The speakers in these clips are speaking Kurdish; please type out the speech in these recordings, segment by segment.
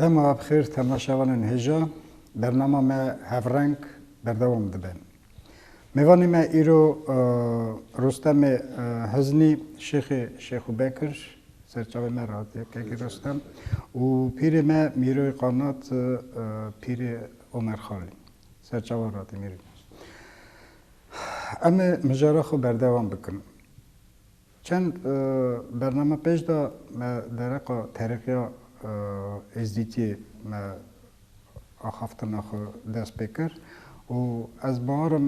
Dema bixêr temaşevanên hêja, bernama me Hevreng berdewam dibe. Mêvanê me îro Rostemê Hiznî Şêxê Şêxu Bekir serçavê me re hatiye Kegî Rostem û pîrê me Mîroyê Qanat Pîrê Omer Xalî serçavan re hatiye Mîrî Em ê mijara xwe berdewam bikin. Çend bername pêş de me dereqa Terîqîya Êzdîtiyê me axaftina xwe dest pê kir û ez barim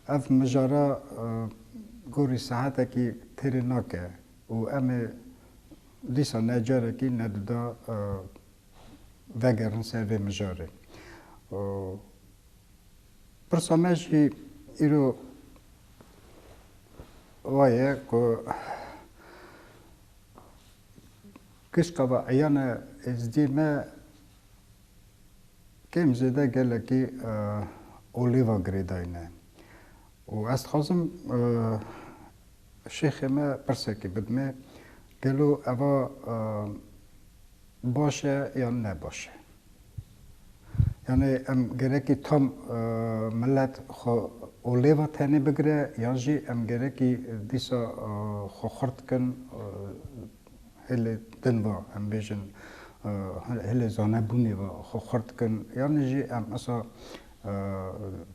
ev mijara gorî saetekî têrê nake û em ê dîsa ne carekî ne duda vegerin ser vê mijarê. Pirsa me jî îro wa ye ku kişka ve eyane Êzidî me kêm zêde gelekî olêva girêdayîne û ez dixwazim şêxê me pirsekê bidimê gelo eva baş e yan ne baş e? Yanî em gerekî tam milet xwe olêva tenê bigire yan jî em gerekî dîsa xwe xurt bikin hêlê din ve em bêjin hêlê zanebûnê ve xwe xurt bikin yanî jî em esa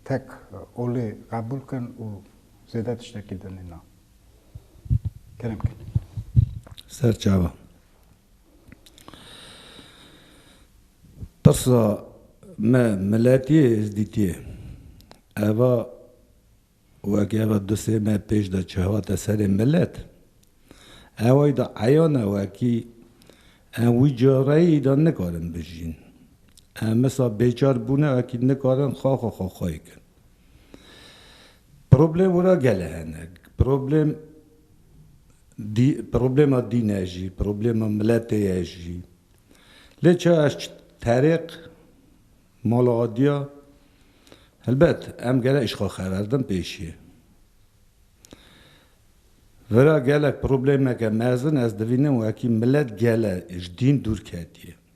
tek olê qebûl bikin û zêde tiştekî din nîne. Kerem kir. Serçava. Qisa me miletî yê Êzdîtî ye. Eva weke eva du sê me pêş de çi hate serê milet, eway de eyan e wekî em wî careyî de nikarin bijîn. Em misa bêçar bûne wekî nikarin xaxa xaxayê kin. Problem wira gele hene. Problem dî problema dîn e jî, problema miletê ye jî. Lê ça ez çi terêq mala adiya helbet em gele îşqa xeverdim pêşiyê. Vira gelek problemeke mezin ez divînim wekî milet gele ji dîn dûr ketiyê.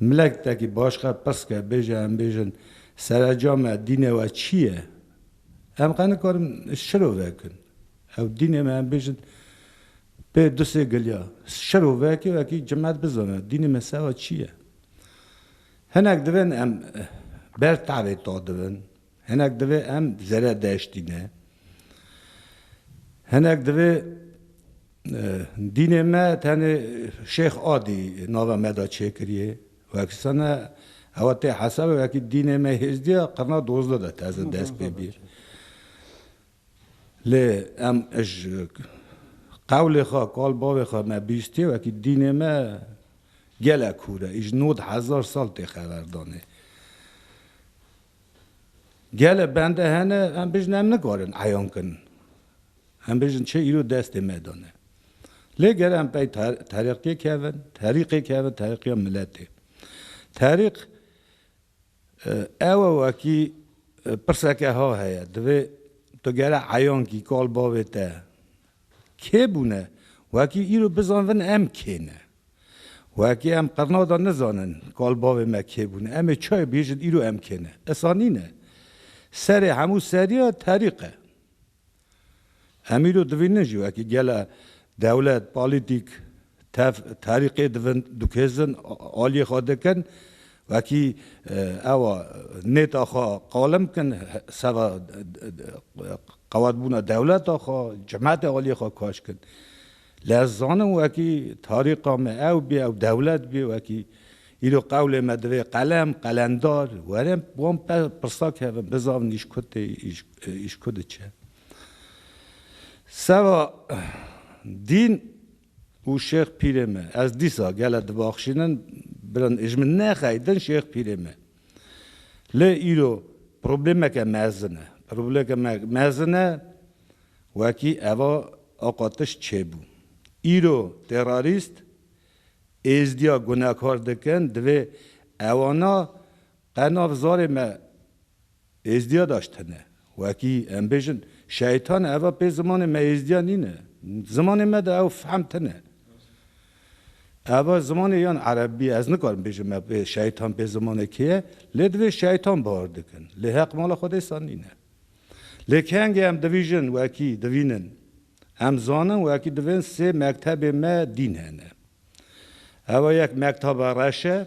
Milektekî başka pirsike bêje em bêjin serecame dînê we çi ye? Em qe nikarin şiro vekin. Ew dînê me em bêjin pê du sê giliya şiro vekê wekî cimet bizane dînê me sewa çi ye? Hinek divên em ber tevê to dibin. Hinek divê em zere deştîne. Hinek divê dînê me tenê Şêx Adî nava me de çêkiriyê. Wekî sene hewa tê hesabê wekî dînê me hêzdî ya qirna dozde de teze dest pê bîyê. Lê em ji qewlê xwe, kal bavê xwe me bîstîyê wekî dînê me gelek hûr e. Îj nod hezar sal tê xeverdanê. Gelek bende hene em bijîn em nikarin eyan bikin. Em bijîn çi îro destê me de ne. Lê gere em pey terîqê kevin, terîqê kevin, terîqê miletê. Terîq ewe wekî pirseke ha heye. Divê tu gere eyan kî kal bavê te Kê bûne? Wekî îro bizanvin em kê ne. Wekî em qirna de nizanin kal bavê me kê bûne, em ê çayê bihêjin îro em kê ne. Esa nîne. Serê hemû seriya terîq e. Em îro dibînin jî wekî gele dewlet, polîtîk, Tev terîqê dikêzin, aliyê xwe dikin, wekî ewa nêta xwe qalim bikin, seva qewetbûna dewleta xwe, cimetê aliyê xwe kaş bikin. Lê ez zanim wekî terîqa me ew bê, ew dewlet bê wekî. Îro qewlê me divê qelem, qelendar were wan pirsa kevin, bizavin îşkû tê, îşkû diçe. Seva dîn û şêx pîrê me. Ez dîsa gele dibaxşînin birin ê ji min nexey din şêx pîrê me. Lê îro problêmeke mezin e. Problêmeke mezin e wekî eva Aqa Tiş çêbû. Îro terorîst êzdiya gunekar dikin divê ewana Qenav zarê me êzdiya daş tene. Wekî em bêjin şeytan eva pê zimanê me êzdiya nîne. Zimanê me de ew fehm tene. Eva zimanê yan erebî ye. Ez nikarim bêjim me pê şeytan pê zimanê kê ye. Lê divê şeytan bar dikin. Lê heq mala xwe dêsan nîne. Lê kengê em divîjin wekî divînin. Em zanin wekî divên sê mektebê me dîn hene. Eva yek mektaba reş e.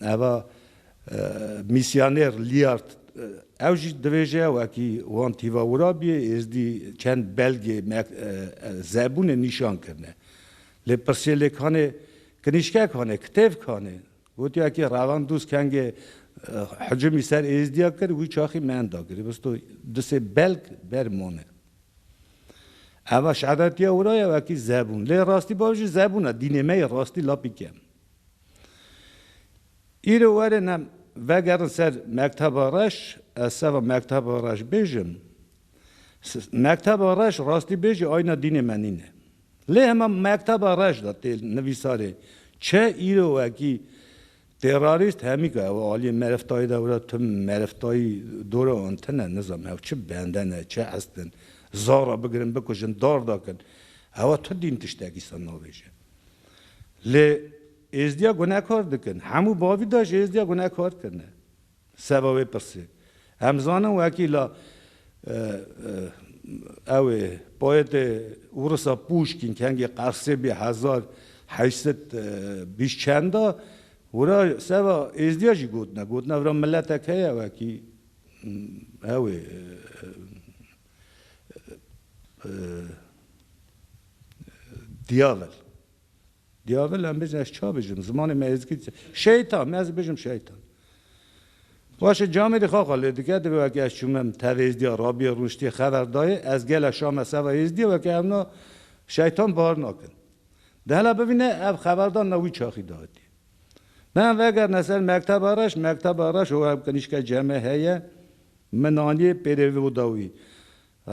Eva mîsyoner Liard ew jî dibêje, wekî wan tîva Wurabiyê, Êzdî çend belgê zebûnê nîşan kirine. Lê pirsê lê kanê kinîşkek hane, kitêvk hane? Gotiye wekî revan dûz kengê hicimî ser Êzdiya kir, wî çaxî mend da girêbisto du sê belg ber mane. Eva şeretiya wira ye wekî zebûn. Lê rastî bav jî zebûn e, dînê me yê rastî lapî kem. Îro werin em vegerin ser Mekteba Reş, ez seva Mekteba Reş bêjim. Mekteba Reş rastî bêjî ayna dînê me nîne. Lê hema Mekteba Reş de tê nivîsarê çi îro wekî terorîst hemîka ew aliyê meriftayî de were tu meriftayî dora an tune nizam ew çi bende ne, çi estin, zara bigirin bikujin, dar dakin. Ewa tu dîn tiştekî sana navêje. Lê Êzdiya gunekar dikin. Hemû bavî de ji Êzdiya gunekar kirine. Seba wê pirsê. Em zanin wekî la ew ê poetê Urisa Pûşkîn kengê Qersê bî hezar heşt sed bîst çend de wira seba Êzdiya jî gotine. Gotine vira miletek heye wekî ew ê Diavel. Diavel em bêjin ez ça bijim zimanê me êzgît e. Şeytan me ez bijim şeytan. Başe camê dî xaxa lê dike divê weke ez çûme min tevê êzdîya rabîya rûniştîya xever dayê ez gele şame seva êzdîya weke hewna şeytan bar nakin. Di hela bivîne ev xeverdan na wî çaxî dayîtî. Me em vegerine ser mekteba reş, mekteba reş o ew qinîşke ceme heye. Min anîye pêrê vî û da wî.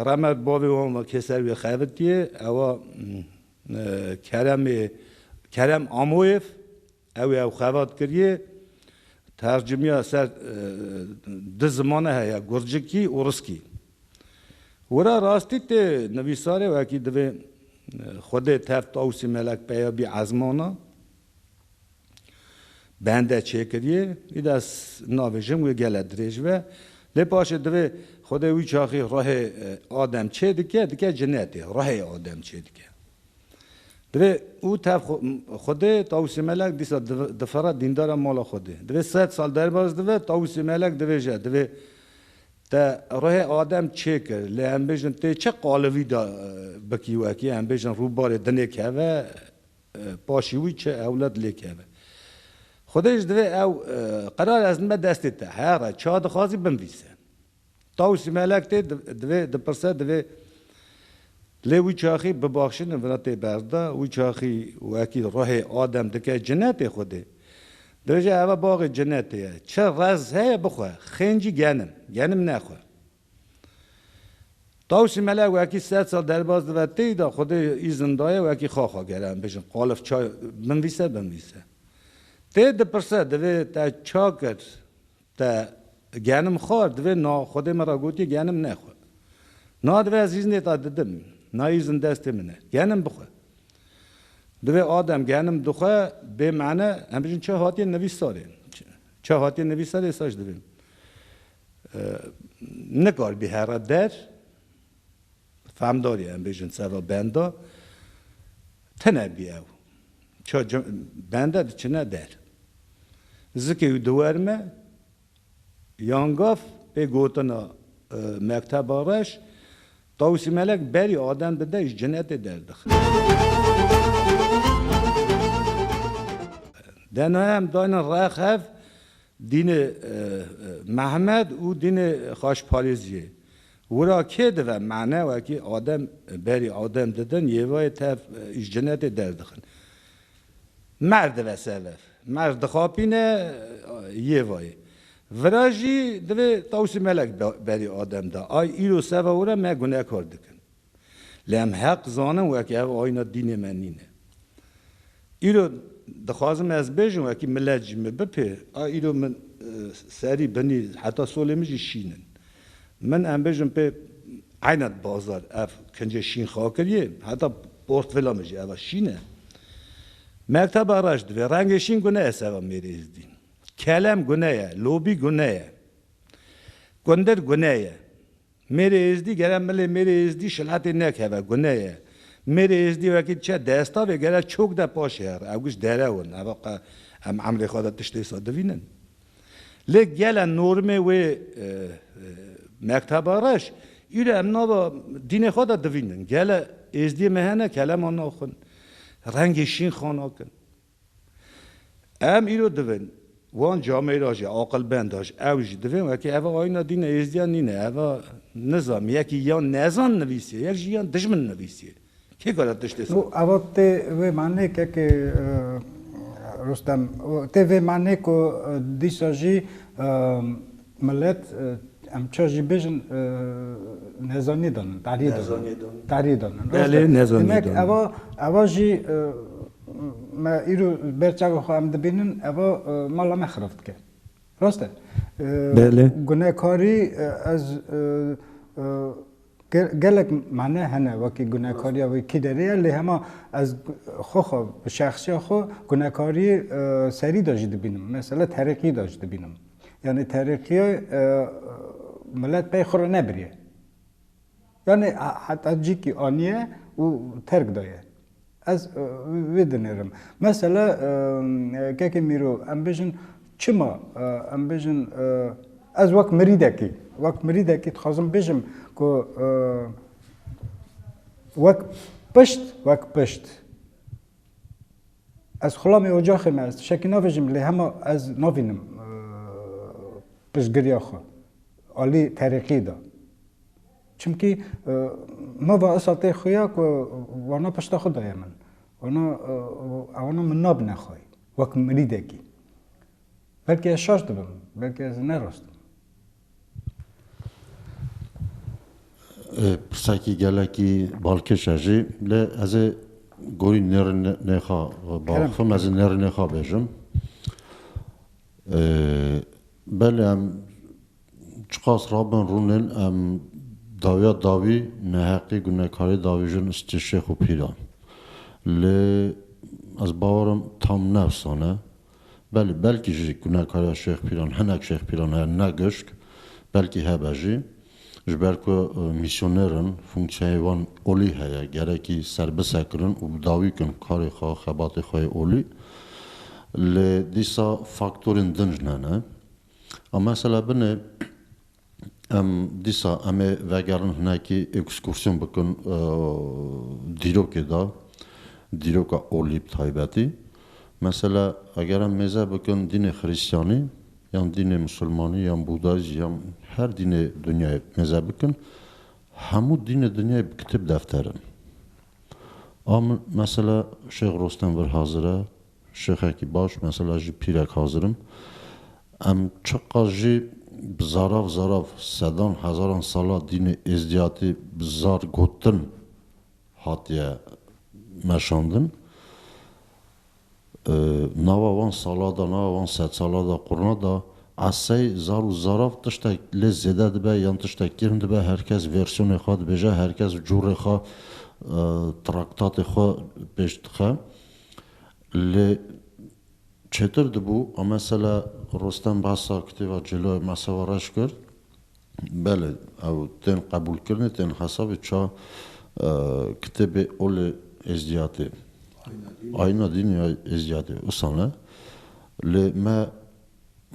Remet bavê wan ve kê ser wî xebitiye, ew a Keremê Kerem Amoyev ew ê ew xebat kiriye. Tercimiya ser du zimane heye, Gurcikî û Riskî. Wira rastî tê nivîsarê wekî divê xwedê tev Tawusî Melek peya bî ezmana. Bende çêkiriyê, îde ez nabêjim wê gele dirêj be. Lê paşê divê Xwedê wî çaxî ruhê adem çê dike, dike cinetê, ruhê adem çê dike. Divê û tev Xwedê Tawusê Melek dîsa difire dîndara mala Xwedê. Divê sed sal derbas dive Tawusê Melek dibêje, divê te ruhê adem çê kir, lê em bêjin tê çi qalivî de bikî wekî, em bêjin rûbarê dinê keve, Paşî wî çi ewlad lê keve. Xwedê ji divê ew qerarê ez dime destê te. Here, çiha dixwazî binvîse. Tawusî Melek tê divê dipirse divê lê wî çaxî bibaxşînin vira tê berda. Wî çaxî wekî ruhê Adem dike cinetê Xwedê. Dibêje eva baxê cinetê ye. Çi rez heye bixwe. Xêncî genim. Genim nexwe. Tawşî Mele wekî sed sal derbas dibe têy de Xwedê îzin daye wekî xaxa gere em bêjin qalif çay binvîse binvîse. Tê dipirse divê te ça kir te genim xwar divê na Xwedê min ra gotiye genim nexwe. Na divê ez îznê te didim na îzin destê min e genim bixwe. Divê adem genim dixwe bê mane em bêjin ça hatiye nivîsarê ça hatiye nivîsarê êsaş divê Nikaribî here der, fehmdarî em bêjin sera benda, tine bî ew. Çar bende diçine der. Zikê wî diwerime, yan gav pê gotina Mekteba Reş, Tawusî Melek berî aden dide ji cinetê derdixe. Dena em dayne rex hev, Dînê Mehmed û dînê Xaşparêziyê wira kê dive mane wekî adem berî adem didin yêvayê tev îş cinetê derdixin. Merv dive sevev. Merv dixapîne yêvayê. Vira jî divê tawsî melek berî adem da. Ay îro seva wira me gunekar dikin. Lê em heq zanin wekî ev ayîna dînê me nîne. Îro dixwazim ez bêjim wekî milet jî min bipê a îro min serî binî heta solê min jî şîn in. Min em bêjim pê eyna di bazar ev kincê şîn xakiriyê heta portvila min jî ev a şîn e. Mekteba reş divê rengê şîn gune ye seba mêrê êzdî. Kelem gune ye, lobî gune ye, kundir gune ye. Mêrê Êzdî gere milê Mêrê Êzdî şilatê nekeve, gune ye. Mêrê Êzdî wekî çe destavê gere çok de paşê here. Ew giş derew in, ev qe em emrê xwe de tiştê wisa divînin. Lê gele normê wê Mekteba Reş, îro em nava dînê xwe de divînin. Gele Êzdiyê me hene kelema naxwin, rengê şîn xwe nakin. Em îro divin wan camê ra jî aqilbenda ji ew jî divin wekî ev a ayîna dîna êzdiyan nîne ev a nizam yekî ya nezan nivîsiye yek jî ya dijmin nivîsiye kê kare tiştê saz bike. Ev a tê vê manê ke ke Rostem tê vê manê ku dîsa jî milet em ça jî bêjin nezanî danin tarî danin tarî danin belê nezanî danin demek ev a ev a jî Me îro ber çavê xwe em dibînin eva mala me xirab dike. Rast e. Belê. Gunekarî ez gelek mane hene wekî gunekariya wê kî derê ye lê hema ez xwe xwe bi şexsiya xwe gunekariyê serî de jî dibînim. Mesela terîqî de jî dibînim. Yanî terîqîyê milet pey xwe re nebiriye. Yanî heta cîkî aniye û terk daye. Ez vê dinêrim. Mesela kekê Mîro em bijin çima em bijin ez wek mirîdekî wek mirîdekî dixwazim bijim ku wek pişt wek pişt ez xulamê ocaxê me ez tişekî navêjim lê hema ez navînim piştgiriya xwe alî terîqî de. Çimkî nava Esatê xuya ku wana pişta xwe daye min. Wana ewana min nabine xwe wek mirîdekî. Belkî ez şaş dibim, belkî ez ne rast im. Pirsekî gelekî balkêş e jî lê ez ê gorî nêrnêxa bixwim, ez ê nêrnêxa bêjim. Belê em Çiqas rabin rûn ên em dawiya dawî neheqî gunekarî davîjin istê şêx û pîran. Lê ez bawer im tam ne efsane ye. Belê belkî jî gunekariya şêx pîran hinek şêx pîran heye ne gişk, belkî hebe jî. Ji ber ku mîsyoner in, funksiyayê wan olî heye, gerekî serbisekirin û bi dawî bikin karê xwe, xebatê xwe yê olî. Lê dîsa faktorên din jî hene. A Mesela binê em dîsa em ê vegerin hinekî ekskursiyon bikin dîrokê de, dîroka olî bi taybetî. Mesela eger em mêze bikin dînê xirîstyanî yan dînê misilmanî yan bûdayîzm yan her dînê dinyayê mêze bikin, hemû dînê dinyayê bi kitêb defter in. A min mesela Şêx Rostem vir hazir e. Şêxekî baş, mesela ji pîrek hazir im. Em çiqas jî bi zarav zarav sedan hezaran sala dînê êzdiyatî bi zar gotin hatiye meşandin. Nava wan sala de, nava wan sedsala de, qurna de esey zar û zarav tiştek lê zêde dibe yan tiştek kêm dibe, her kes versiyonê xwe dibêje, her kes cûrê xwe, traktatê xwe pêş dixe. Lê çêtir dibû. A mesela Rostem bahsa kitêba Cêloyê Masewa Reş kir. Belê ew tên qebûlkirinê, tên hesabê ça kitêbê Olê Êzdiyatê, Ayîna Dînê ya Êzdiyatê, usane. Lê me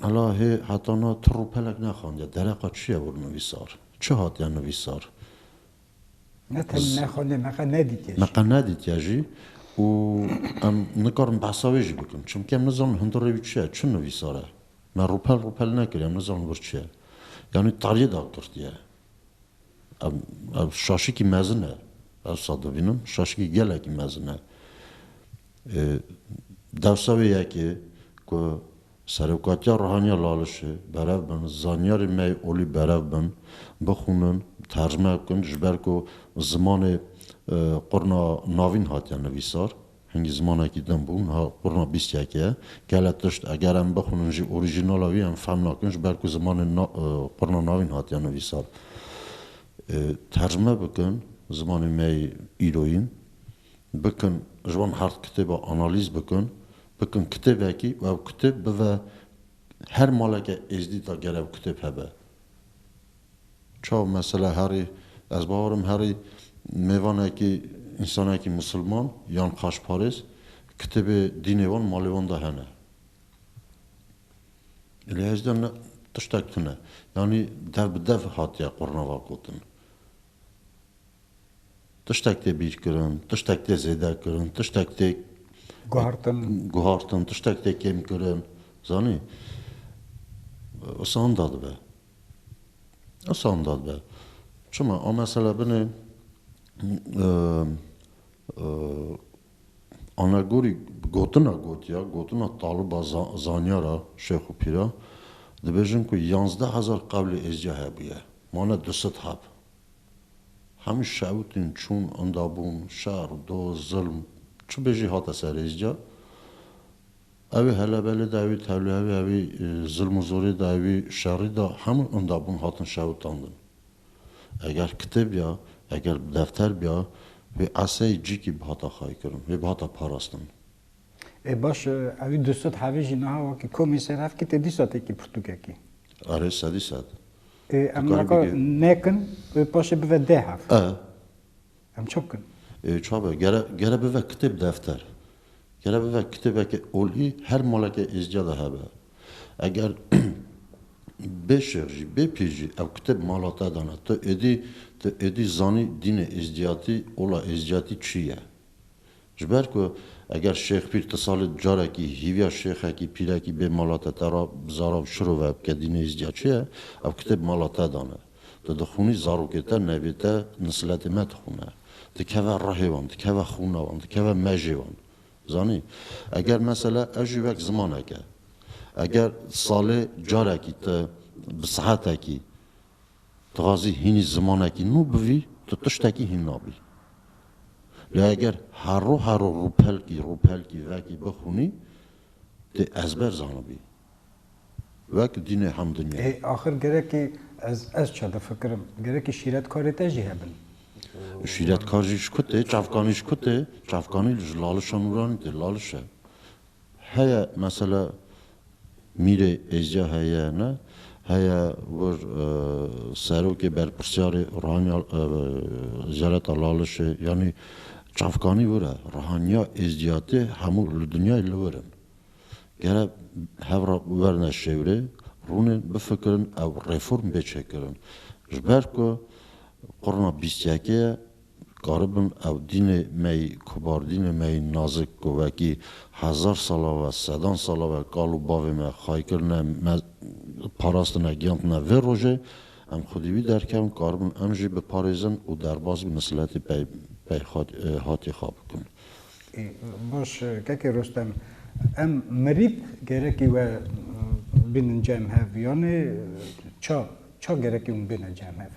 mela hê heta na tir û pelek nexandiye. Dereqa çi ye wir nivîsar? Çi hatiye nivîsar? Ne tenê ne xwe lê me qe nedîtiye jî. Me qe nedîtiye jî û em nikarin behsa wê jî bikin. Çimkî em nizanin hundirê wî çi ye, çi nivîsar e. Me rûpel rûpel nekiriye, em nizanin wir çi ye. Yanî tariyê dagirtiye. Ev ev şaşikî mezin e. Ewsa dibînim şaşikî gelekî mezin e. Dewsa wê yekê ku Serokatiya Ruhaniya Lalişê, berev bin, zanyarên me yê olî berev bin, bixwînin, tercme bikin ji ber ku zimanê qurna navîn hatiye nivîsar, hingî zimanekî din bû, niha qurna bîst yek ye. Gelek tişt eger em bixwînin jî orîjînala wî em fehm nakin ji ber ku zimanê qurna navîn hatiye nivîsar. Tercme bikin zimanên me yê îroyîn. bikin ji wan hard kitêba analîz bikin bikin kitêbekî û ew kitêb bive her maleke êzdî da ger ew kitêb hebe çaw mesela herî ez bawer im herî mêvanekî însanekî misilman yan paşparêz kitêbê dînê wan malê wan da hene lê hêj de tiştek tune yanî dev bi dev hatiye qurnava gotin Tiştek tê bîrkirin, tiştek tê zêdekirin, tiştek tê guhartin, tiştek tê kêmkirin. Zanî? Isan da dibe. Isan da dibe. Çima? A mesela binê anegorî gotina gotiya, gotina taliba zanyara, şêx û pîra, dibêjin ku yazdeh hezar qewlê êzdiya hebûye. Mane du sed hab. Hemû şewitîn çûn, endabûn, şer, doz, zilm, çi bêjî hate ser rêz ca. Ewê helebelê da, ewê tevlihevê, ewê zilm û zorê da, ewê şerî da hemû endabûn hatin şewitandin. Eger kitêb ya, eger defter biya wê eseyê cîkî bihata xaykirin, wê bihata parastin. E baş e, ew ê Dûsad Hevî jî niha wekî komê ser hev kite Dîsad êkî pirtûkekî. Arê sedî sed. E em naka nekin e paşê bive deh hev. E. Em çi bikin? E çi be gere gere bive kitêb defter. Gere bive kitêbeke olî her maleke êzdiya de hebe. Eger bê şêx jî bê pîr jî ew kitêb mala te dana tu êdî tu êdî zanî dînê êzdiyatî ola êzdiyatî çi ye. Ji ber ku eger Şêxpîr ti salê du carekî hîviya şêxekî, pîrekî bê mala te te ra bi zara û şirove bike dî nihîst ca çi ye, ew kitêb mala te dan e. Tu dixwînî zarokê te, nevê te nisiletê me dixwîne. Dikeve rihê wan, dikeve xwîna wan, dikeve mejê wan. Zanî? Eger mesela ev jî wek zimanek e. Eger salê carekî ti bi sihetekî, Dixwazî hînî zimanekî nû bivî, tu tiştekî hîn nabî. Lê eger herro herro rûpelkî rûpelkî vekî bixwînî, tê ezber zanibî. Wek dînê hemdinya. Ê axir gerekî ez ez çi difikirim, gerekî şîretkarê te jî hebin. Şîretkar jî ji ku tê, çavkanî ji ku tê, çavkanî ji lalişa nûranî tê, laliş e. Heye mesela Mîrê Êzca heye ne, heye wir serokê berpirsyarê Rihanya Jeleta Lalişê yanî çavkanî wir e. Rihanya Êzciyatê hemû li dinyayê li wir in. Gere hev re werne şêwirê, rûnên bifikirin ew reform bê çêkirin. Ji ber ku qurna bîst yekê ye Dikaribin ev dînê me yî, kobardînê me yî nazik ku wekî hezar sala ve, sedan sala ve kal û bavê me xay kirine, me parastine, giyandine vê rojê, em xwedî wî derkevin, karibin em jî biparêzin û derbas bi misiletê pey pey hatê xwe bikin. Baş e Keke Rostem, em mirîp gerekî we bînin cem hev yanî ça, ça gerekî wan bêne cem hev?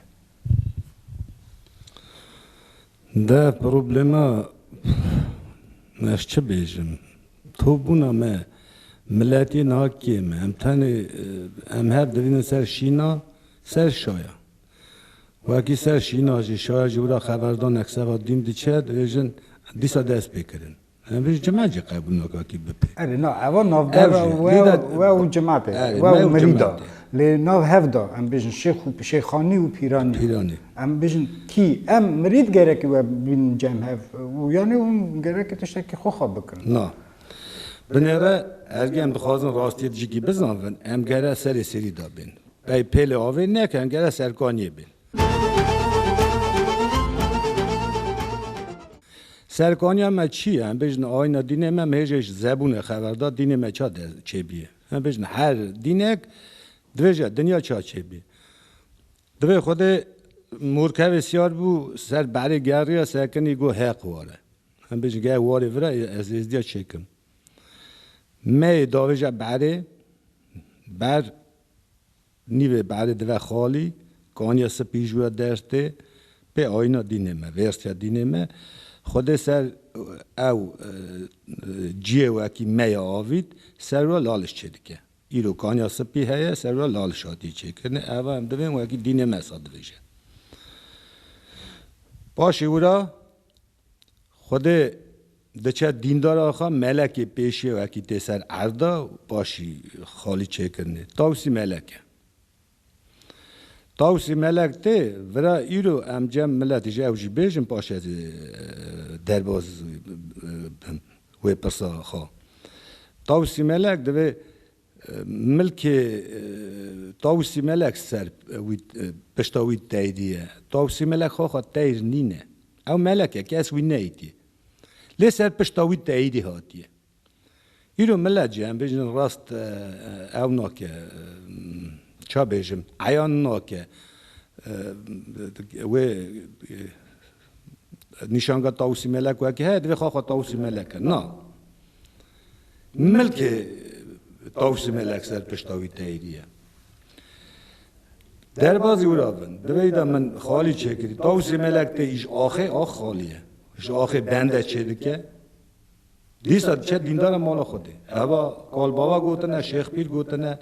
De problema me ez çi bêjim? To bûna me miletê niha kêm e. Em tenê em hev divînin ser şîna, ser şaya. Wekî ser şîna jî şaya ji wira xeberdanek seva dîm diçe dibêjin dîsa dest pê kirin. Ev cima jî qebûl naka kî bipe. Erê na eva navbera we we û cimatê we û mirî da. Lê nav hev da em bêjin şêx û şêxanî û pîranî. Pîranî. Em bêjin kî em mirî digerekî we bîn cem hev û yanî hûn gerekî tiştekî xwe xwe bikin. Na. Binê re ergê em dixwazin rastiyê dijîkî bizanvin em gere serê serî de bên. Pey pêlê avê neke em gere serkaniyê bên. Serkaniya me çi ye? Em bêjin ayna dînê me, me hê jê ji zebûnê xeber da, dînê me ça de çêbîye? Em bêjin her dînek divê ji dinya ça çêbî. Divê Xwedê morkevê siyar bû ser berê geriya sekinî got heq war e. Em bêjin geh warê vir e ez êzdiya çêkim. Me yê davêje berê ber Nîvê berê dive xalî, kaniya sipî ji we derç tê, pê ayîna dînê me, vêrsiya dînê me. Xwedê ser ew ciyê wekî me ya avît, ser we laliş çêdike. Îro kaniya sipî heye, ser we laliş hatiye çêkirinê, eva em divên wekî dînê me sa dibêje. Paşê wira Xwedê diçe dîndar axa melekê pêşê wekî tê ser erda paşî xalî çêkirinê. Tawsî melek e. Tawsî melek tê vira îro em cem milet ji ew jî bêjin paşê ez ê derbaz bim wê pirsa xwe. Tawsî melek divê Milkê Tawusî Melek ser wî pişta wî teydî ye. Tawusî Melek xaxa teyr nîne. Ew meleke kes wî neytî. Lê ser pişta wî teydî hatiye. Îro milet jî em bêjin rast ew nake ça bêjim eyan nake wê Nîşanga Tawusî Melek wekî heye divê xwe xwe Tawusî Melek e. Na. Milkê Tawusî Melek ser pişta wî teyîdî ye. Derbazî wira bin. Divê de min xalî çêkirî. Tawusî Melek tê î ji axê ax xalî ye. Ji axê bende çêdike. Dîsa diçe dîndara mala Xwedê. Heva kalbava gotine, şêx pîr gotine.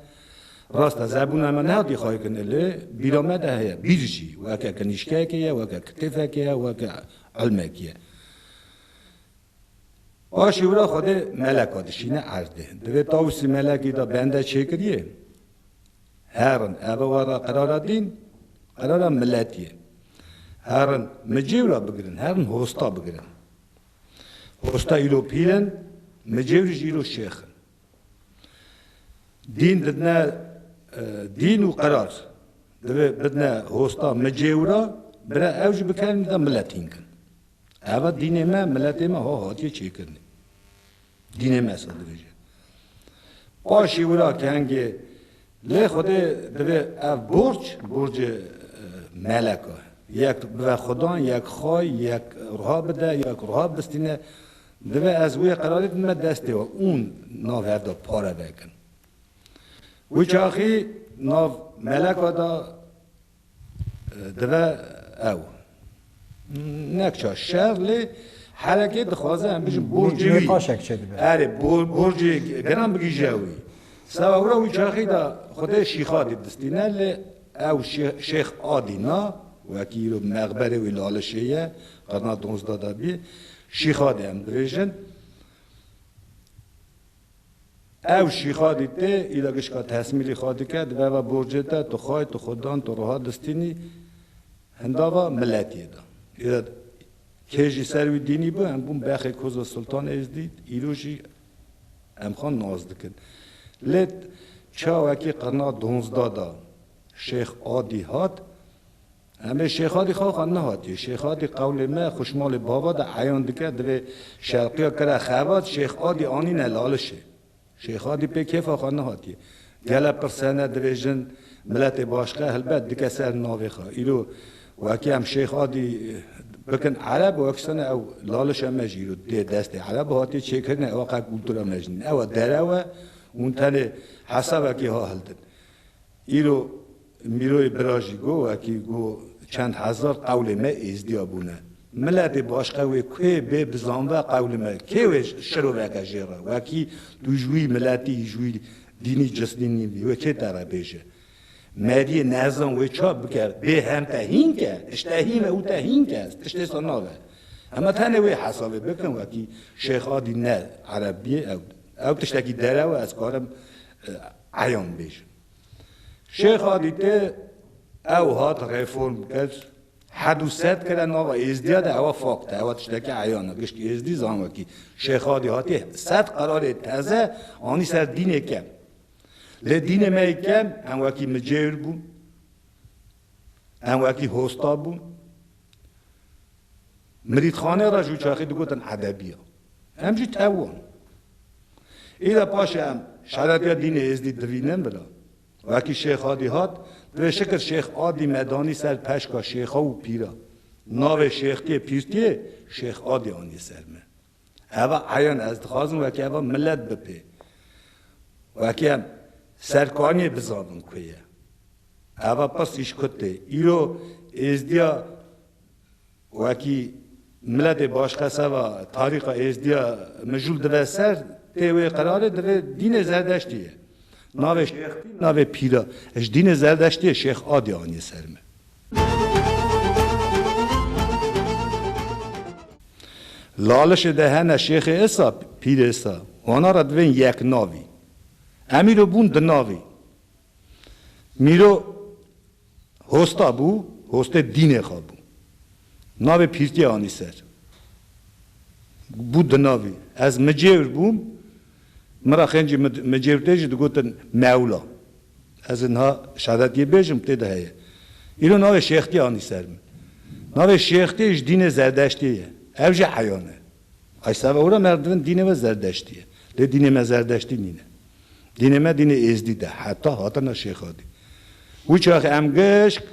Rast e, zebûna me nehatiye xwekirinê lê bîra me de heye. Bîr jî weke kinîşkeyekê ye, weke kitêfekê ye, weke ilmekî ye. Paşê wira Xwedê meleka dişîne erdê. Divê tawusî melekî de bende çêkiriyê. Herin, heva were qerara dîn, qerara miletî ye. Herin micê wira bigirin, herin hosta bigirin. Hosta îro pîr in, micêwî jî îro şêx in. Dîn didine dîn û qerar. Divê bidine hosta micêw re, bire ew jî bikerîne de miletîn kin. Eva dînê me, miletê me ha hatiye çêkirinê. Dînê me sor dibêje. Paşî wira kengê Lê Xwedê divê ev borc, borcê melek e. Yek bibe Xwedan, yek xay, yek ruha bide, yek ruha bistîne. Divê ez wê qerarê bime destê we û nav hev de pare vekin. Wî çaxî nav meleka da Dibe ew nekça şer lê herekê dixwaze em bijin borcê wî. Paşek çê dibe. Erê borcê giran bigihije wî. Seba wira wî çaxî de xwedê Şîxadî distîne lê ew Şêx Adî na wekî îro mexberê wî li Alişê ye qirna donzda de bî Şîxadî em dibêjin. Ew şîxa dî tê, îla gişka tehsmîlî xwe dike, di beva borcê te, tu xay, tu xudan, tu roha distînî, hindava miletiyê de. Îla kê jî ser wî dînî bû, em bûn bexê Koza Sultan Êzdî, îro jî em xwe nas dikin. Lê çawekî qirna donzda de Şêx Adî hat, Emê Şêxadî xaxa nehatiye. Şêxadî qewlê me xuşmalê bava de eyan dike divê Şewqiya kira xebat Şêxadî anîne lalişê. Şêxadî pê kêfa xwe nehatiye. Gele pirsene divê jin miletê başxe helbet dike ser navê xwe. Îro wekî em Şêxadî bikin ereb û ekisene ew lalişa me jî îro dê destê ereb û hatiye çêkirine ew qe kultura me jî nîn. Ew derew e hûn tenê hesabekî ha hildin. Îro Mîroyê Bira jî got, wekî got çend hezar qewlê me êzdiya bûne. Miletê başqe wê kuê bê bizanve qewlê me, kê wê şiroveke jê re, wekî tu ji wî miletî, ji wî dînî cisnî nîbî, wê kê te re bêje. Meriyê nezan wê ça bike, bê hem te hînk e, tişte hîn e û te hînk e, tiştê sa nabe. Heme tenê wê hesabê bikin, wekî Şêx Adî ne Ereb bîyê, ew ew tiştekî derew e, ez karim Eyan bêjin. Şêx a dîte ew hat reform kes hedû sed kere nava Êzdiya de ewa fakt e, ewa tiştekî eyan e, gişt Êzdî zan wekî Şêx a dî hatî sed qerarê teze anî ser dînê kem. Lê dînê me yê kem em wekî micêr bûn, em wekî hosta bûn, Mirîdxanê re ji çaxê digotin Edebiya. Em jî tew wan. Îde paşê em şeretiya dînê Êzdî dirînin vila. Wekî Şêx Adî hat, divê Şikir Şêx Adî me danî ser peşka şêxa û pîran. Navê şêxtiyê pîrtiyê Şêx Adî anî ser me. Eva eyan ez dixwazim wekî eva milet bipê. Wekî em serkaniyê bizanbin ku ye. Eva pirsîş kut tê. Îro êzdiya wekî miletê başxes eva tarîxa êzdiya mijûl dive ser tê wê qerarê divê dînê zerdeştî ye. Navê şêx navê pîra. Ji dînê zerdeştiyê şêx Adê anîye ser min. Lalişê de hene Şêxê Îsa, Pîrê Îsa. Wana re divên yek navî. Em îro bûn di navî. Mîro hosta bû, hostê dînê xwe bû. Navê pîrtiye anî ser. Bû di navî. Ez micêwr bûm, Min re xêncî min cê û tê jî digotin Mewla. Ez ê niha şadetiyê bêjim tê de heye. Îro navê Şêxtiyê anî ser min. Navê Şêxtiyê ji dînê Zerdeştiyê ye. Ev jî eyan e. Ay seba were me dibin dînê we Zerdeştî ye. Lê dînê me Zerdeştî nîne. Dînê me dînê Êzdîd e. Heta hatina Şêxadî. Wiçax em gişk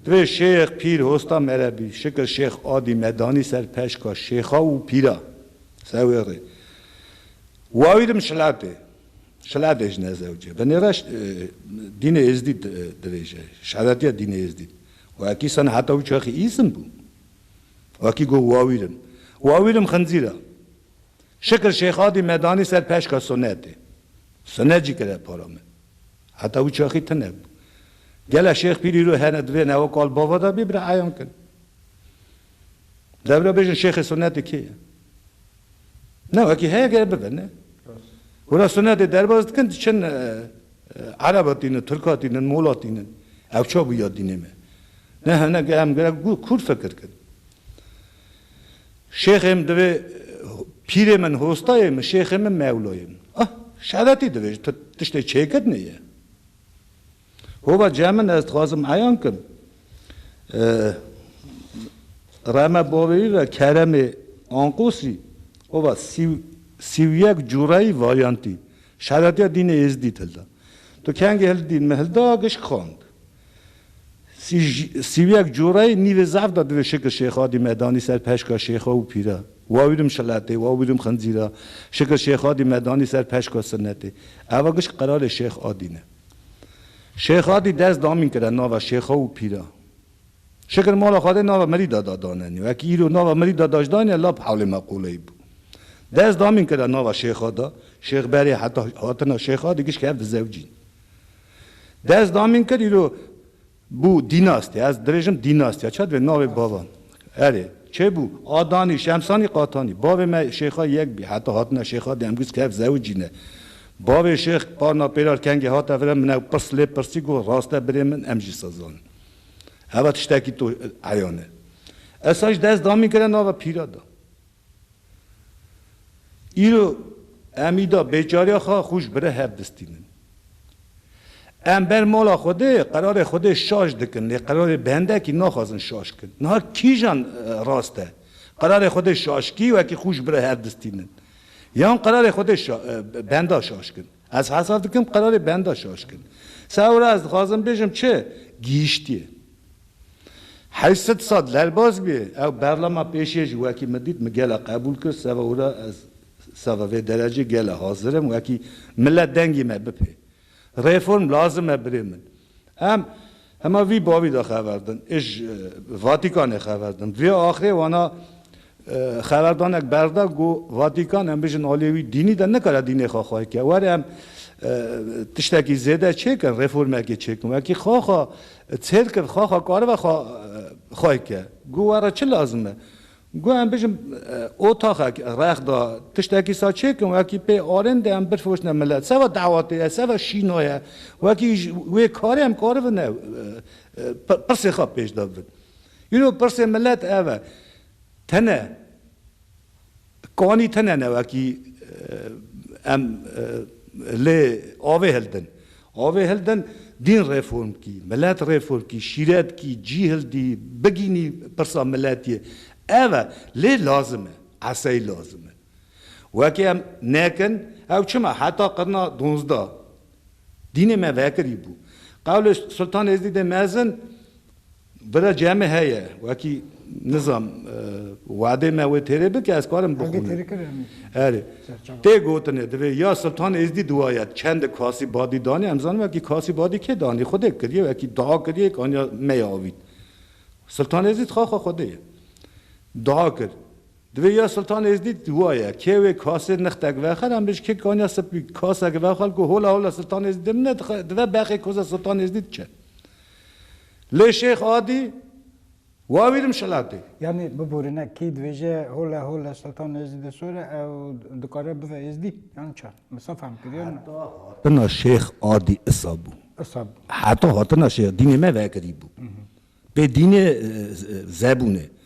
divê Şêx, Pîr, Hosta mere bî. Şikir Şêx Adî me danî ser peşka Şêxa û Pîra. Ser wê rê wawî li Mişilatê, Şilatê ji Nezewcê bi nêra Dînê Êzdî dibêje, Şeretiya Dînê Êzdî. Wekî senheta wî çaxî îsim bû. Wekî got wawîrim, wawîrim xinzîr a. Şikir Şêxadî me danî ser peşka sunetê. Sunet jî kire para min. Heta wî çaxî tune bû. Gela Şêx Pîr îro hene divê newe kal bava de bê bi reeyan kin. Dewre bêjin şêxê sunnetê kê ye? Ne wekî heye gere bibe ne. Wira sunnetê derbas dikin diçin Ereba tînin, Tirka tînin, Mola tînin. Ew ça bû ya dînê me? Ne hene ge em gerek bû kûr fikir kin. Şêxê min divê pîrê min hostayê min şêxê min mewlayê min. Ah şeretî divê ji tu tiştê çêkirinê ye. Hova cem min ez dixwazim eyan kim. Reme bavêrî re Keremê Anqosî hova sî û yek cureyî varyantî şeretiya dînê Êzdîd hilda. Tu kengê hil dîn min hilda gişk xand. Sî û yek cureyî nîvê zerf de divê Şikir Şêxadî me danî ser peşka şêxa û pîra. Wawîrim şiletê, wawîrim xincîra. Şikir Şêxadî me danî ser peşka sinetê. Eva gişk qerarê Şêx Adî ne. Şêx Adî dest damîn kire nava şêxa û pîra. Şikir mala Xwedê nava Mirî Dada danenî. Wekî îro nava Mirî Dadaş daniye lap hewlê me qûleyî bû. Dest damîn kire nava Şêx Ada, Şêx Berê heta hatina Şêx Adî giş kevdi zewcîn. Dest damîn kir îro Bû dînastî, ez dirêjim dînastîya, çi divê navê bavan. Erê, çê bû, Adanî, Şemsanî, Qatanî. Bavê me şêxa yek bî, heta hatine şêxa di Emgûz kef zewicî ne. Bavê şêx Parna Pêrar kengê hate vir e, min ew pirs lê pirsî got, rast e birê min, em jî se zanin. Heva tiştekî to eyan e. Ez sa jî dest damîn kire nava pîra da. Îro em îda bêçariya xwe xwe ji bire hev distînin. Em ber mala Xwedê qerarê Xwedê şaş dikin lê qerarê bendekî naxwazin şaş bikin. Niha kîjan rast e? Qerarê Xwedê şaşkî wekî xwe ji bire hev distînin yan qerarê Xwedê benda şaş bikin? Ez hesab dikim qerarê benda şaşkin. Sewra ez dixwazim bêjim çi? Gihîştiye. Heyset sal derbas bûye. Ew berlama pêşiye jî wekî min dît, min gela qebûl kir, sewra ez sava vê derecê gela hazir im wekî milet dengê me bipê. Reform lazim e birê min. Em hema vî bavî de xeber din ê ji Vatîkanê xeber din. Vê axirê wana xeberdanek berda ku Vatîkan em bijin aliyê wî dînî de nikare dînê xwe xwe ke. Were em tiştekî zêde çêkin, reformekê çêkin. Wekî xaxa çêr kir, xaxa karibe xwe xwe ke. Ku were çi lazim e? Got em bijîm otaxek rex da tiştekî sa çêkin wekî pê arên de em birfroşne milet seva dawatê ye seva şîno ye wekî ji wê karê em karibine pirsê xwe pêş de bibin îro pirsê milet ev e tene kanî tene ne wekî em lê avê hildin Avê hildin dîn reform kî, milet reform kî, şîret kî, cî hildî, bigînî pirsa miletiyê. Ev e, lê lazim e, esey lazim e. Wekî em nekin, ew çima heta qirna donzdeh dînê me vekirîbû. Qewlê Sultan Êzdîdê mezin Bira cem e heye wekî nizam wade me wê têrê bike ez karim bixwînim. Erê. Tê gotinê divê ya Siltan Êzdî duwaye çend kasî badî danê em zanin wekî kasî badî kê danê xwedê kiriye wekî dua kiriye yek aniya me ya avît. Siltan Êzdî dixaxa xwedê ye. Dua kir. Divê ya Siltan Êzdî duwaye kê wê kasê nixtek vexer em bêj kek aniya sipî kasek vexal ku hola hola Siltan Êzdî dimine dive bexê koza Siltan Êzdî diçe. Lê Şêx Adî wa wî dimşelatê. Yanî biborîne kî dibêje hole hole Seltan Êzîdê sor e ew dikare bive Êzdî yan çi? Min sa fehm kiriye min. Heta hatina Şêx Adî isa bû. Isa bû. Heta hatina Şêx dînê me vekirî bû. Pê dînê zebûnê.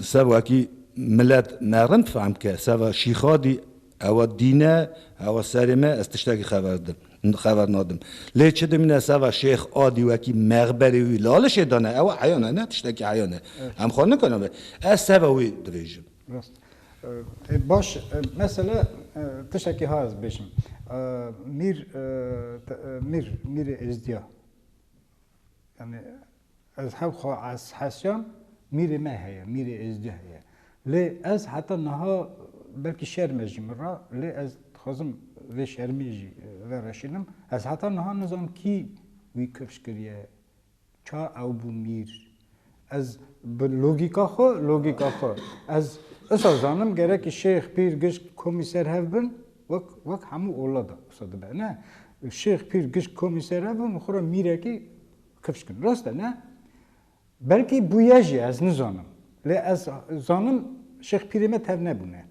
Sevakî milet ne rind fehm bike, seva Şîxadî ewa dîn e, ewa serê me, ez tiştekî xeber dim, xeber nadim. Lê çi dimîne seva Şêx Adî wekî mexberê wî lalişê dane, ewa heyan e, ne tiştekî heyan e. Em xwe nikana be. Ez seva wî dibêjim. Rast e. Baş e. Mesela tiştekî ha ez bêjim. Mîr, Mîr, Mîrê Êzdîya yanî Ez hev xwe ez hesiyam mîrê me heye, mîrê Êzdî heye. Lê ez heta niha belkî şerm e jî min re lê ez dixwazim vê şermî jî vereşînim. Ez heta niha nizam kî wî kirş kiriye, ça ew bû mîr. Ez bi logîka xwe, logîka xwe ez wisa zanim gerekî şêx, pîr, gişt, komî ser hev bin wek wek hemû ola de wisa dibe ne. Şêx, pîr, gişt, komî ser hev bin û xwe re mîrekî Kifş kin. Rast e ne? Belkî bûye jî ez nizanim. Lê ez zanim Şêx Pîrê me tev nebûne.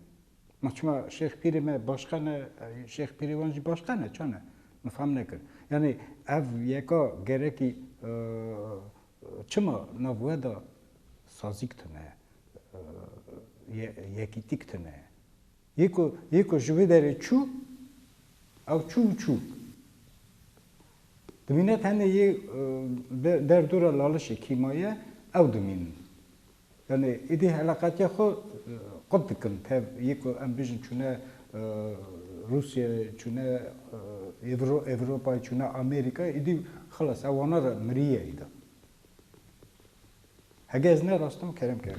Ma çima Şêx Pîrê me başqa ne, Şêx Pîrê wan jî başqa ne, ça ne? Min fam nekir. Yanî ev yeka gerekî çima nav we de sazîk tune, yekîtîk tune. Yê ku yê ku ji wê derê çû, ew çû û çû. Dimîne tenê yê de derdora lalişê kîmaye ew dimînin. Yanî êdî heleqetiya xwe qut dikin tev yê ku em bijin çûne Rûsye, çûne Ewropayê, çûne Amerîkayê êdî xilas e wana re mirîye êda. Hege ez ne rastim kerem ke.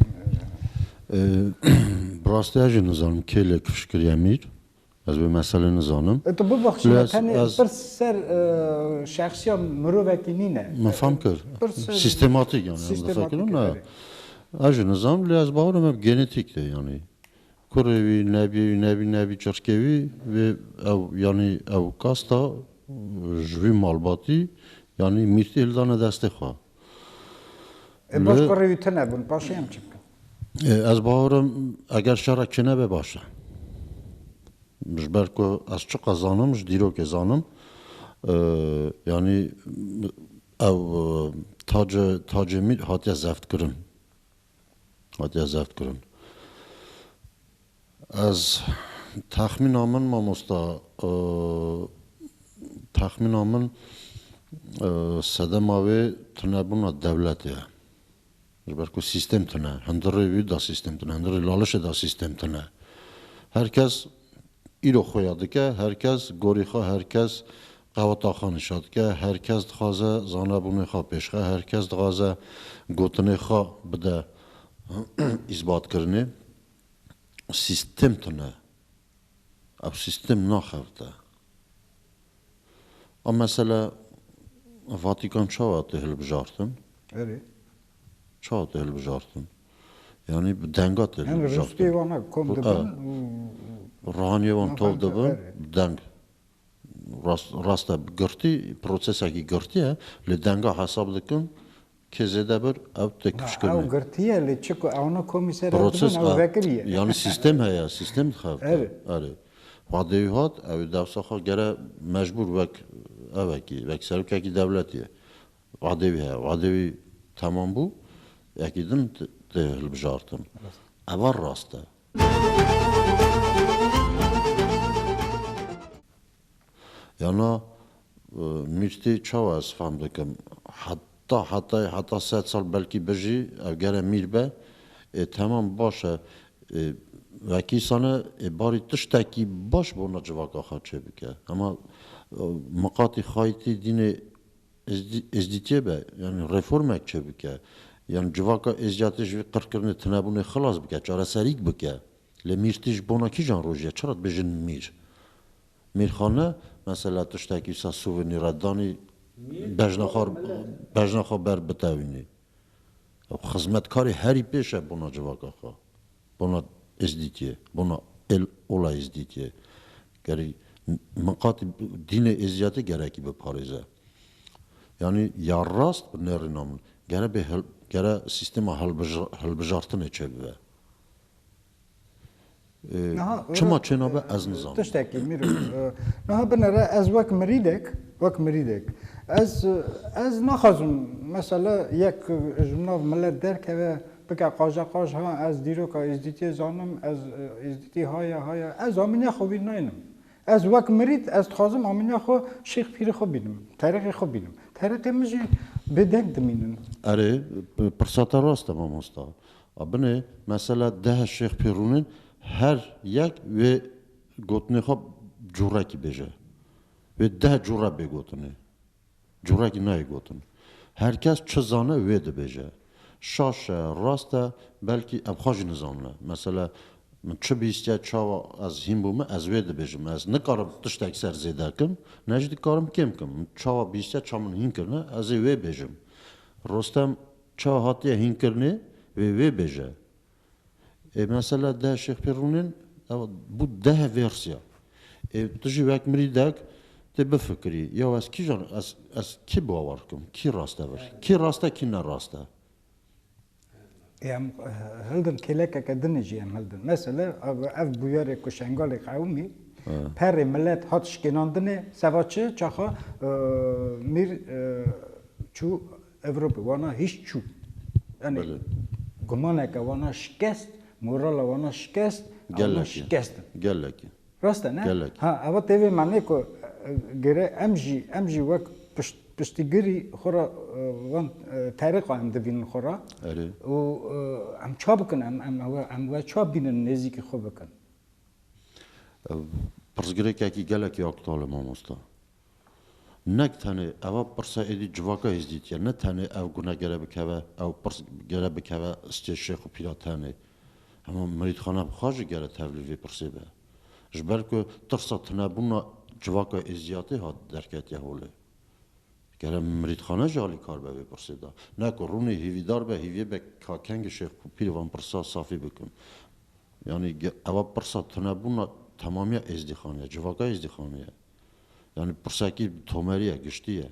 Bi rastî ez jî nizanim kê lê kifş kiriye mîr. Ez vê meselê nizanim. E, tu bibexşî me tenê pirs ser şexsiya mirovekî nîne. Min fam kir. Sîstematîk yani em difekirin ne. Ez jî nizanim lê ez bawer me bi genetîk de yani. Kurê wî, nebiyê wî, nebî nebî çirkê wî vê ew yani ew kasta ji vî malbatî yani mîrtî hildane destê xwe. E baş ku rêwî tune bûn paşê em çi bikin? Ez bawerim eger şera çi nebe baş e. Ji ber ku ez çiqas zanim ji dîrokê zanim yanî ew tace tacê mîr hatiye zevtkirin. Hatiye zevtkirin. Ez texmîna min mamosta texmîna min sedema wê tunebûna dewletê ye. Ji ber ku sîstem tune. Hundirê wî de sîstem tune. Hundirê lalişê de sîstem tune. Her kes îro xwe ya dike, her kes gorî xwe, her kes qeweta xwe nîşan dike, her kes dixwaze zanebûnê xwe pêşxe, her kes dixwaze gotinê xwe bide îsbatkirinê. sîstem tune, ew sîstem naxebite. A mesele Vatikan çawa hate hilbijartin? Erê. Çawa hate hilbijartin? Yani bi denga te Yani hilbijartin. restê wan hak kom Bu, dibin evet. û Ruhaniyê wan tav Nafemte, dibin, evet. bi deng. Rast, rast e, bi girtî, prosesekî girtî ye, lê denga hesab dikin, Kê zêde bir ew têkuşkir ne. Ew girtiye lê çi ku ewna komîser ew dibin ew vekirî ye. Yanî sîstem heye, sîstem dixebite. Erê. Xwedêwî hat ew ê dewsa xwe gere mecbûr wek evekî, wek serokekî dewletî ye. Xwedêwî heye. Xwedêwî temam bû, yekî din tê hilbijartin. Eva rast e. Yana Mîrtê çawa ez fam dikim? Heta hetayê heta sed sal belkî bijî ev gere mîr be. Ê temam baş e. Ê wekî sane ê barî tiştekî baş bona civaka xwe çêbike. Hema miqatî xayîtî dînê Êzdîtiyê be yanî reformek çêbike. Yan civaka Êzdîyatê ji vî qirkirinê tunebûnê xilas bike, çareserîk bike. Lê mîr tê ji bona kîjan rojê? Çira dibêjin mîr? Mîrxan ne mesela tiştekî wisa sûvînî re danî bejna xwe bejna xwe ber bitewînî. Ew xizmetkarê herî pêş e bona civaka xwe, bona Êzdîtiyê, bona êl ola Êzdîtiyê. Gerî min qatî dînê Êziyatê gerekî biparêze. Yanî ya rast bi nêrîna min gere bê hil gere sîstema hilbij hilbijartinê çêbibe. Çima çênabe ez nizanim. Tiştekî mîro niha binêre ez wek mirîdek wek mirîdek ez ez naxwazim mesela yek ji min nav milet derkeve bike qaja qaj ha ez dîroka êzdîtiyê zanim ez êzdîtî haya haya ez amîniya xwe wî naynim. Ez wek mirîd ez dixwazim amîniya xwe şêx pîrê xwe bînim terîqê xwe bînim. Terîqê min jî bêdeng dimînin. Erê pirsa te rast e mamosta. A binê mesela deh şêx pê rûnin her yek wê gotinê xwe curekî bêje. Wê deh cure bê gotinê. Curekî nayê gotin. Her kes çi zane wê dibêje. Şaş e, rast e, belkî ev xwe jî nizanine. Mesela min çi bîstiye çawa ez hîn bûme ez wê dibêjim. Ez nikarim tiştek ser zêde kim, ne jî dikarim kêm kim. Min çawa bîstiye ça min hîn kirine ez ê wê bêjim. Rostem Ça hatiye hînkirinê vê wê bêje. Ê mesela deh Şêx Pîr Rûnên ew bû deh vêrsya. Ê tu jî wek mirîdek tê bifikirî, ya ez kîjan ez ez kî bawer bikim, kî rastevir, kî rast e kî nerast e. Ê em hildin kêlekeke din jî em hildin. Mesela ev bûyerê ku Şengalê qewimî perê milet hat şikênandinê, seba çi çaxa Mîr çû Ewropê wana hîş çû. Yanî gumaneke wana şikest, morala wana şikest, ewna şikest in. Gelek e. Rast e ne? Gelek. Ha, eva tê vê manê ku gere em jî em jî wek piştgirî xwe ra van terêqa em dibînin xwe ra û em ça bikin em em em we ça bînin nêzîkî xwe bikin. Pirsgirêkekî gelekî aktal e mamosta. Ne tenê eva pirsa êdî civaka Hêzdîtî ye, ne tenê ev gune gere bikeve, ew pirs gere bikeve stê şêx û pîra tenê. Hema mirîdxana bi xwe jî gere tevlî vê pirsê be. Ji ber ku tirsa tunebûna civaka Êzdîyatê hat derketiye holê. Gere mirîdxane jî alîkar be vê pirsê de. Ne ku rûnê hîvîdar be, hîvîyê be ka kengê şêx û pîrê van pirsa safî bikin. Yanî eva pirsa tunebûna temamîya Êzdîxanê ye, civaka Êzdîxanê ye. Yani pirsekî tomerî ye, giştî ye.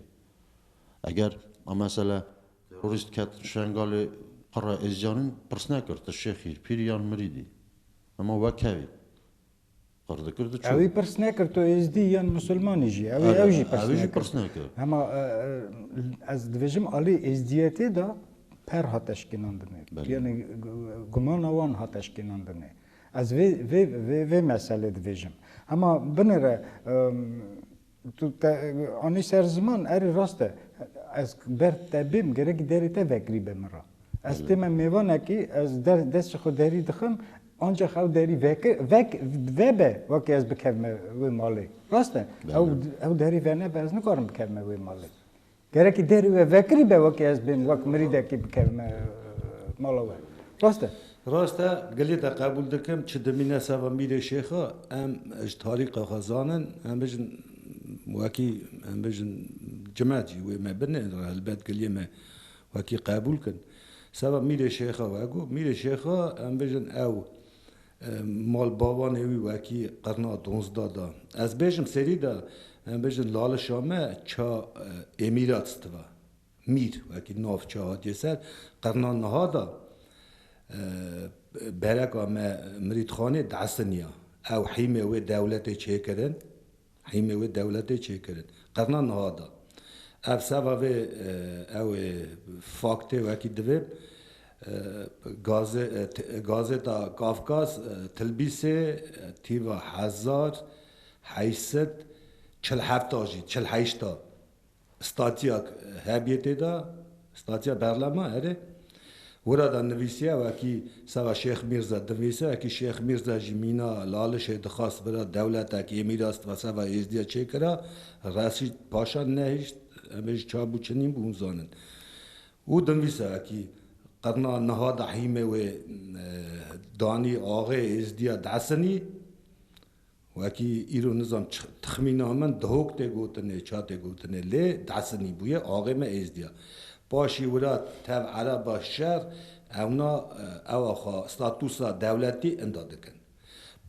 Eger a mesela terorîst ket Şengalê qira Êzîcanîn pirs nekir tu şêxî, pîrî yan mirîdî. Hema we kevî. Qir dikir diçû. Ewî pirs nekir tu Êzdî yan musulmanî jî. Ewî ew jî pirs nekir. Ewî jî pirs nekir. Hema ez dibêjim alî Êzdîyetê de per hat eşkênandinê. Yani gumana wan hat eşkênandinê. Ez vê vê vê vê meselê dibêjim. Hema binire tu te anî ser ziman erê rast e. Ez ber te bêm gerekî derê te vekirî be min re. Ez tê me mêvanekî ez der destê xwe derî dixim anca xew derî vekir vek vebe wekî ez bikevme wê malê. Rast e. Ew ew derî venebe ez nikarim bikevme wê malê. Gerekî derî we vekirî be wekî ez bêm wek mirîdekî bikevime mala we. Rast e? Rast e, gilê te qebûl dikim, çi dimîne seba Mîrê Şêxa, em ji tarîka xwe zanin, em bijin wekî em bijin cimet jî wê me bin e, helbet gilê me wekî qebûl kin. Seba Mîrê Şêxa we got, Mîrê Şêxa em bijin ew Malbawanê wî wekî qirna donzda da. Ez bêjim serî da, em bêjin lalişa me ça Êmîrats diva. Mîr wekî navça hatiye ser. Qirna niha da bereka me Mirîdxanê diesiniya. Ew hîmê wê dewletê çêkirin. Hîmê wê dewletê çêkirin. Qirna niha da. Ev seba vê ew ê faktê wekî divê gazeta Kafkas Tilbîsê tîva hezar heyşset çil heft a jî çil heyşt a. Statiyak hebîyê tê de, statiya berlema erê. Wira de nivîsiye wekî seba Şêx Mîrze dinvîse, wekî Şêx Mîrze jî mîna lalişê dixwast bira dewletek yê mîras dibe seba Êzdiye çêkira. Resîd paşa nehişt, em ê ji çav bû çinîn bû hûn zanin. Û dinvîse wekî qirna niha de hîmê wê danî axê Êzdiye Desinî Wekî îro nizam tixmîna min dihok tê gotinê, ça tê gotinê lê desinî bûye axê me êzdiya. Paşî wira tev ereba şer ewna ewa xwe statusa dewletî inda dikin.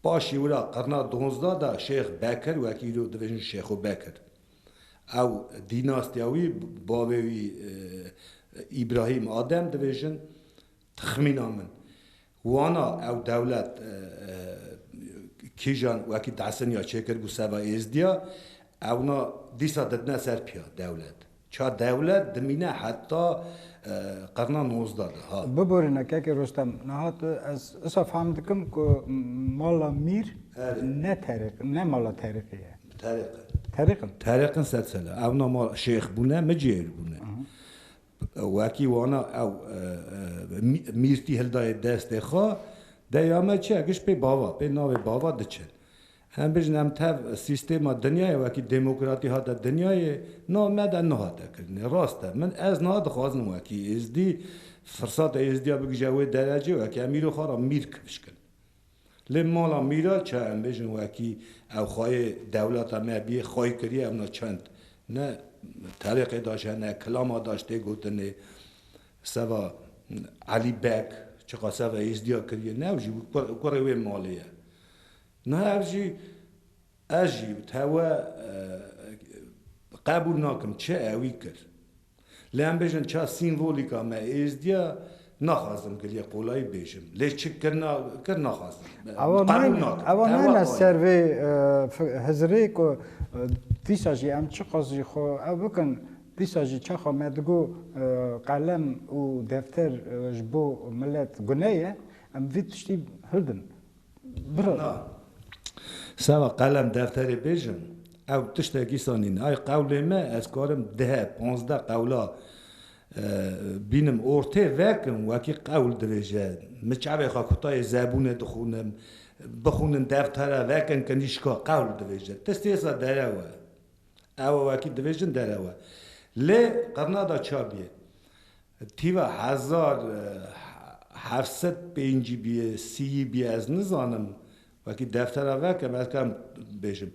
Paşî wira qirna donzda de Şêx Bekir wekî îro dibêjin Şêxo Bekir ew dînastiya wî bavê wî Îbrahîm Adem dibêjin tixmîna min Wana ew dewlet kîjan wekî dehseniya çêkir bû seba êzdiya, ewna dîsa didine ser piya dewlet. Ça dewlet dimîne heta qirna nozda de ha. Biborîne keke Rostem, niha tu ez usa fam dikim ku mala mîr ne terîq ne mala terîqî ye. Terîq in. Terîq in. Terîq in sed sal e. Ewna mal şêx bûne, micêr bûne. Wekî wana ew mîrtî hildaye destê xwe, deya me çi ye giş pê bava, pê navê bava diçin. Em bijin em tev sîstêma dinyayê wekî demokratî hate dinyayê, nav me de niha te kirinê. Rast e, min ez niha dixwazin wekî êzdî, firsata êzdiya bigije wê derecê wekî em îro xwe ra mîrk bişkin. Lê mala Mîra çi em bêjin wekî ew xwayê dewleta me bîyê xwayî kirîye ew na çend ne terêqê daş hene kilama daş tê gotinê seva Elî Beg çiqa seva Êzdîya kirîye ne ew jî kurê wê malê ye niha ev jî Ez jî tewe qebûl nakim çi ewî kir. Lê em bêjin ça sîmvolîka me êzdiya naxwazim giliyê qolayî bêjim. Lê çi kirina kir naxwazim. Ewa qebûl nakim. Ewa nayêne ser vê hizirê ku dîsa jî em çiqas jî xwe ew bikin dîsa jî çaxa me digo qelem û defter ji bo milet gune ye em vî tiştî hildin. Birna, seba qelem defterê bêjim, ew tiştek îsa nîn. Ay qewlê me, ez karim deh, panzdeh qewla bînim, ortê vekim, wekî qewl dibêje. Min çavê xwe kutayê zebûnê dixwînim, bixwînim deftere vekim, kinîşka qewl dibêje. Ti sêsa derew e. Ew wekî dibêjin derew e. Lê qirna da çar bîyê. Tîva hezar heft sed pêncî bîyê, sîyî bîyê ez nizanim. Wekî deftera veke me ez kam bêjim.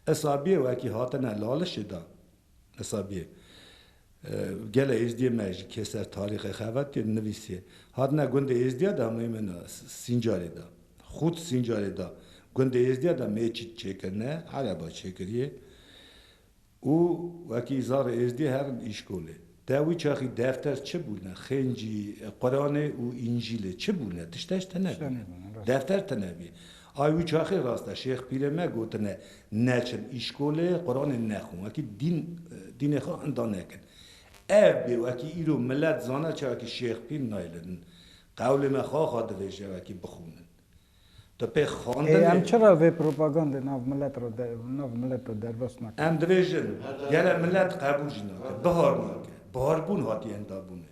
Isabîyê wekî hatine lalişê de. Isabîyê. Gelê Êzdiyê me ji Kêser tarîxê xebat kir, nivîsiye, Hatine gundê Êzdiya de hemûyî min Sîncarê da. Xût Sîncarê da. Gundê Êzdiya de mêçît çêkirine, ereba çêkiriye û wekî zarê Êzdiyê herin îşkolê. Te wî çaxî defter çi bûne, xêncî, Quranê û Înjîlê çi bûne, tişteş tine bûne. Defter tine bûye. Ay wî çaxê rast e. Şêx Pîrê me gotine, Neçin îşkolê, Quranê nexwin. Wekî dîn, dînê xwe enda nekin. Ev bê wekî îro milet zana çavekî Şêx Pîr nayilin. Qewlê me xaxa divêje wekî bixwînin. Tu pê Ê xandinê. em çira vê propagandê nav milet re de, nav milet de derbas nakin? Em dibêjin, gele milet qebûl jî nake, bihar nake. Biharibûn hatiye endabûnê.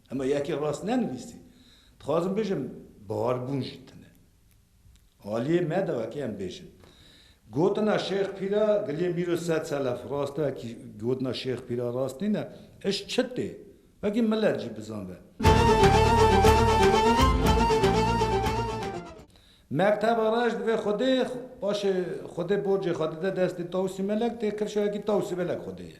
Hema yekê rast nenivîsî. Dixwazim bijim bahar bûn jî tune. Aliyê me de wekî em bêjin. Gotina Şêx Pîra giliyê mîro sed selef rast e wekî gotina Şêx Pîra rast nîne. Iş çi tê? Wekî milet jî bizan be. Mekteba reş divê xwedê paşê xwedê borcê xwe dide destê Tawusî Melek tê kifşe wekî Tawusî Melek xwedê ye.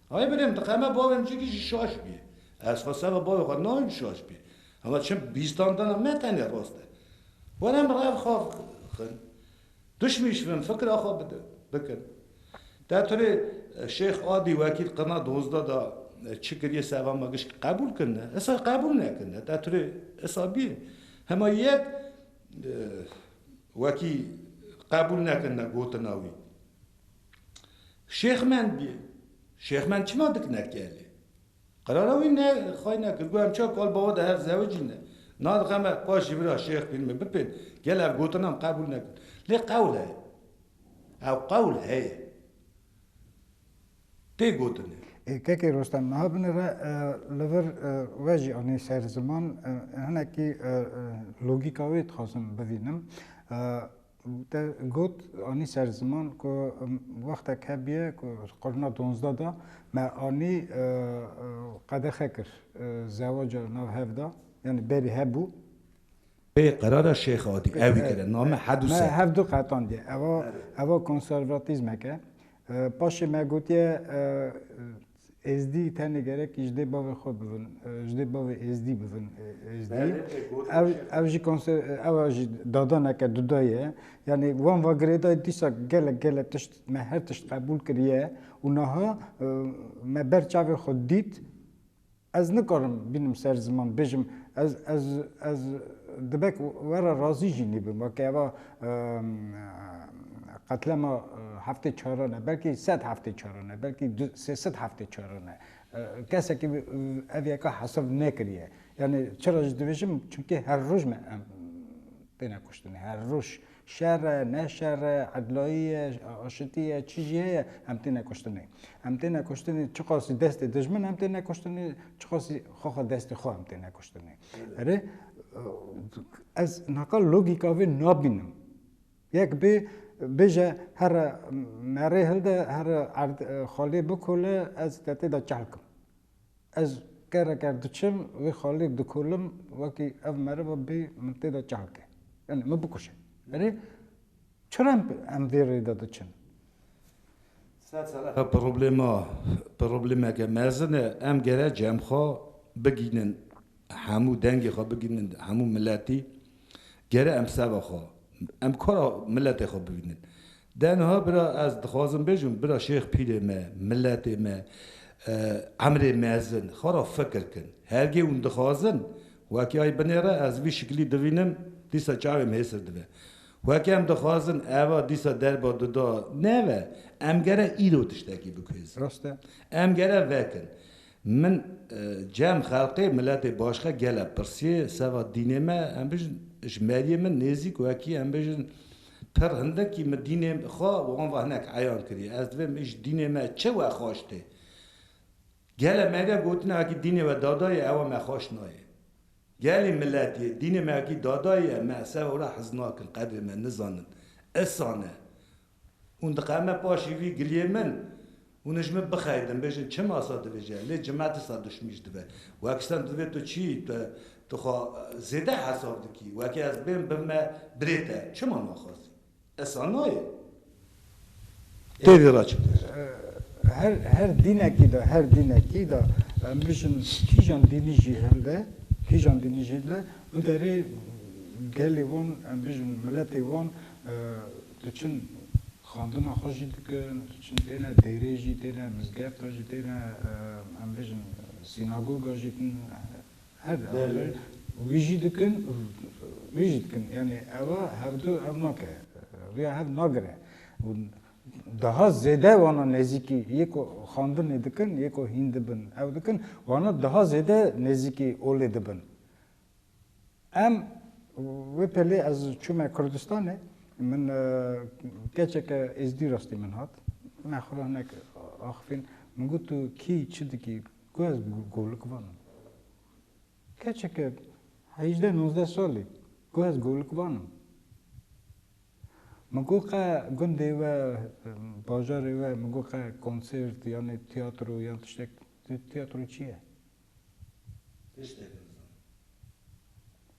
Hay birêm diqe me bavên cî kî jî şaş bî. Ez xwe serra bavê xwe nayêm şaş bî. Hema çim bîstan dana ne tenê rast e. Were min re ev xav xin. Dişmîşvin, fikra xwe bidin, bikin. Te turê Şêx Adî wekîl qirna dozda da çi kirîye serra me gişt qebûl kirine. Isa qebûl nekirine. Te turê isa bî. Hema yek wekî qebûl nekirine gotina wî. Şêx Mend bî. Şêx Mend çima dikine kelê? Qerara wî ne xwe ne kir. Got em çar kal bawe de hev zewicî ne. Na dixe me paş ji vira Şêx Pîr me bipên. Gel ev gotina em qebûl nekin. Lê qewl heye. Ew qewl heye. Tê gotinê. Ê kekê Rostem niha binire li vir we jî anî ser ziman. Hinekî logîka wê dixwazim bivînim. Te got, anî ser ziman ku wextek hebûye ku di qurna dozdeh de me anî qedexe kir zewaca nav hev de, yanî berî hebû. Pê qerara Şêx Adî ewî kir e, name Hedu Ser. Me hevdu qetandiye. Ev a konservatîzmek e. Paşê me gotiye Êzdî tenê gerek ji dê bavê xwe bibin, ji dê bavê Êzdî bibin Êzdî. Ev jî konser ew a jî dadaneke duda ye. Yanî wan va girêdayî dîsa gelek gelek tişt me her tişt qebûl kiriye û niha me ber çavê xwe dît ez nikarim bînim ser ziman bêjim ez ez ez dibe ku we re razî jî nîbim weke eva Qetlema heftê çaran e, belkî sed heftê çaran e, belkî sê sed heftê çaran e. Kesekî ev yeka hesab nekiriye. Yanî çira ji dibêjim çimkî her roj me em têne kuştinê. Her roj şer e, ne şer e, edlayî ye, aşitî ye, çi jî heye em têne kuştinê. Em têne kuştinê çiqasî destê dijmin em têne kuştinê, çiqasî xwe xwe destê xwe em têne kuştinê. Erê ez naka logîka vê nabînim. Yek bê bêje here merê hilde here erd xalê bikole ez te tê de çelkim. Ez kere ker diçim vê xalê dikolim wekî ev meriva bê min tê de çelke. Yani min bikuşe. Erê Çira em vê rê de diçin? Ev problema problemeke mezin e. Em gerek cem xwe bigihînin hemû dengê xwe bigihînin hemû miletî. Gerek em seva xwe em kora miletê xwe bibînin. De niha bira ez dixwazim bêjim bira şêx pîrê me, miletê me, emrê mezin xwe ra fikir kin. Hergê hûn dixwazin wekî ay binêre ez vî şiklî dibînim dîsa çavê min hêsir dibe. Wek em dixwazin eva dîsa derba dida neve, em gere îro tiştekî bikuêzin. Rast e. Em gere vekin. Min cem xelqê miletê başka gele pirsiye seva dînê me, em bijin ji meriyê min nêzîk wekî em bijin pir hindikî min dînê xwe wan ve hinek eyan kiriye. Ez divêm ji dînê me çi wexweş tê? Gelê me de gotin akî dînê we dada ye ewa me xweş nayê. Gelê milet yê, dînê me akî dada ye me ser ora hez nakin, qedrê me nizanin. Isan e. Hûn diqeme paşî vî giliyê min, hûn ji min bixeydin, bêjin çima sa dibêje, lê cima disa duşmî ji dibe. Wekistan divê tu çi, tu xwe zêde hesab dikî, wekî ez bên bibime birê te, çima naxwazî? Esa nayê. Têdî raçik dîr. Her her dînekî de her dînekî de em bijîn kîjan dînî jî hebe, kîjan dînî jî be bi derê gelê wan em bijîn miletê wan diçin xandina xwe jî dikin, diçin têne dêrê jî têne mizgefta jî têne em bijîn sînagoga jî tîne. Ev dawî wî jî dikin û wî jî dikin. Yanî eva hevdu ev nake. Rêya hev nagire û daha zêde wana nêzîkî yê ku xandinê dikin, yê ku hîn dibin ew dikin, wana daha zêde nêzîkî olê dibin. Em wê pelê ez çûme Kurdistanê, min keçeke êzdî rastî min hat. Me xwe hinek axifîn. Min got tu kî çi dikî? Ku ez golik vanim. Keçeke heyjdeh nozdeh salî ku ez golik vanim. Min got qe gundê we, bajarê we min got qe konsêrt yanê tiyatro yan tiştek tiyatro çi ye? Tiştek nizanim.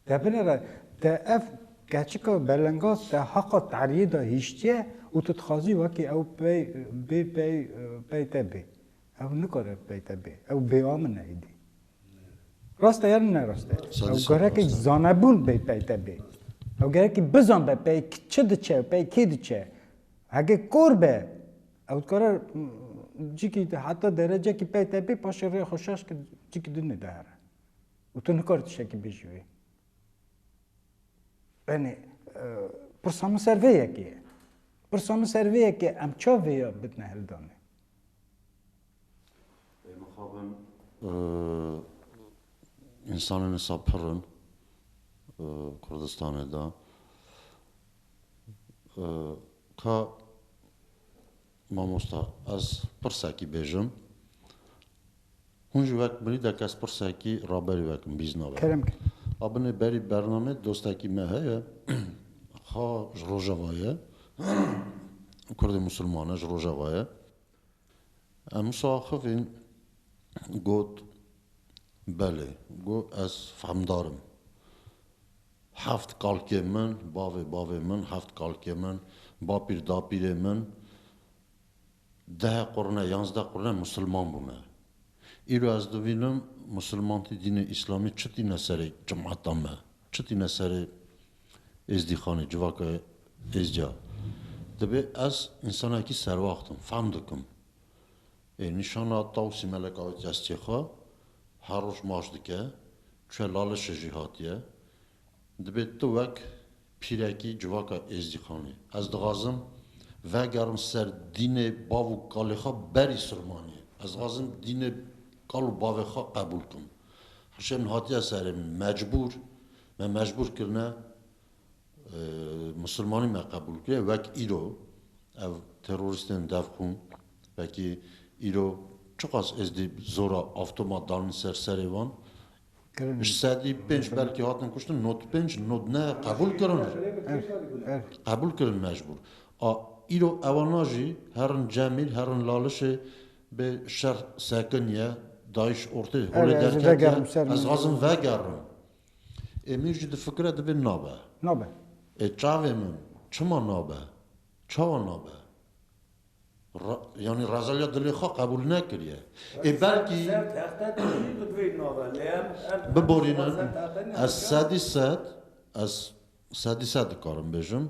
Te binêre te ev keçika belenga te heqa teriyê de hiştiye û tu dixwazî wekî ew pey bê pey pey te bê. Ew nikare peyte bê. Ew bêamin e êdî. Rast e yan ne rast e? Ew gerekî zanebûn bê peyte bê. Ew gerekî bizanbe pey çi diçe û pey kê diçe. Heke kor be ew dikare cikî heta derecekî peyte bê paşê rêya xwe şaş ke cikî din nêde here. Û tu nikare tiştekî bijî wê. Benê pirsa min ser vê yekê ye. Pirsa min ser vê yekê ye em ça vêya bidine hildanê? Însanên wisa pir in Kurdistanê de. Ka mamosta ez pirsekî bêjim. Hûn ji wek binî de kesprsekî raberî wek in bîz nabe. Kerem kir. A binê berî bernamê dostekî me heye ha ji rojeva ye kurdê musulman e ji rojeva ye. Em wisa axivîn got belê got ez fehmdar im. Heft kalkê min, bavê bavê min, heft kalkê min, bapîr dapîrê min Deh qurne, yanzdeh qurne musilman bûme. Îro ez dibînim musilmantî dînê îslamî çi tîne serê cemata me, çi tîne serê êzdîxanê, civaka êzca. Dibê ez însanekî serwaxt im, fehm dikim. Ê nîşana Tawsî Melek Awît Destê xwe her roj maş dike, çûye Lalişê jî hatiye. Dibê tu wek pîrekî civaka êzdîqanê. Ez dixwazim vegerim ser dînê bav û kalê xwe berî sirmaniyê. Ez dixwazim dînê kal û bavê xwe qebûl bikim. Hişê min hatiye serê min mecbûr, me mecbûr kirine misirmanî me qebûl bikirê wek îro ev terorîstên devxûn wekî îro çiqas êzdî zora avtoma danin ser serê wan, Ji sedî pênc belkî hatin kuştin not pênc not ne qebûl kirin qebûl kirin mecbûr a îro ewana jî herin cemîl herin lalişê bê şer sekin ye dayîş ortê holê derketiye ez dixwazim vegerim ê min jî difikire divê nabe nabe ê çavê min çima nabe çawa nabe. Yanî rezelya dilê xwe qebûl nekiriye. Ê belkî biborînin. Ez sedî sed, ez sedî sed dikarim bêjim,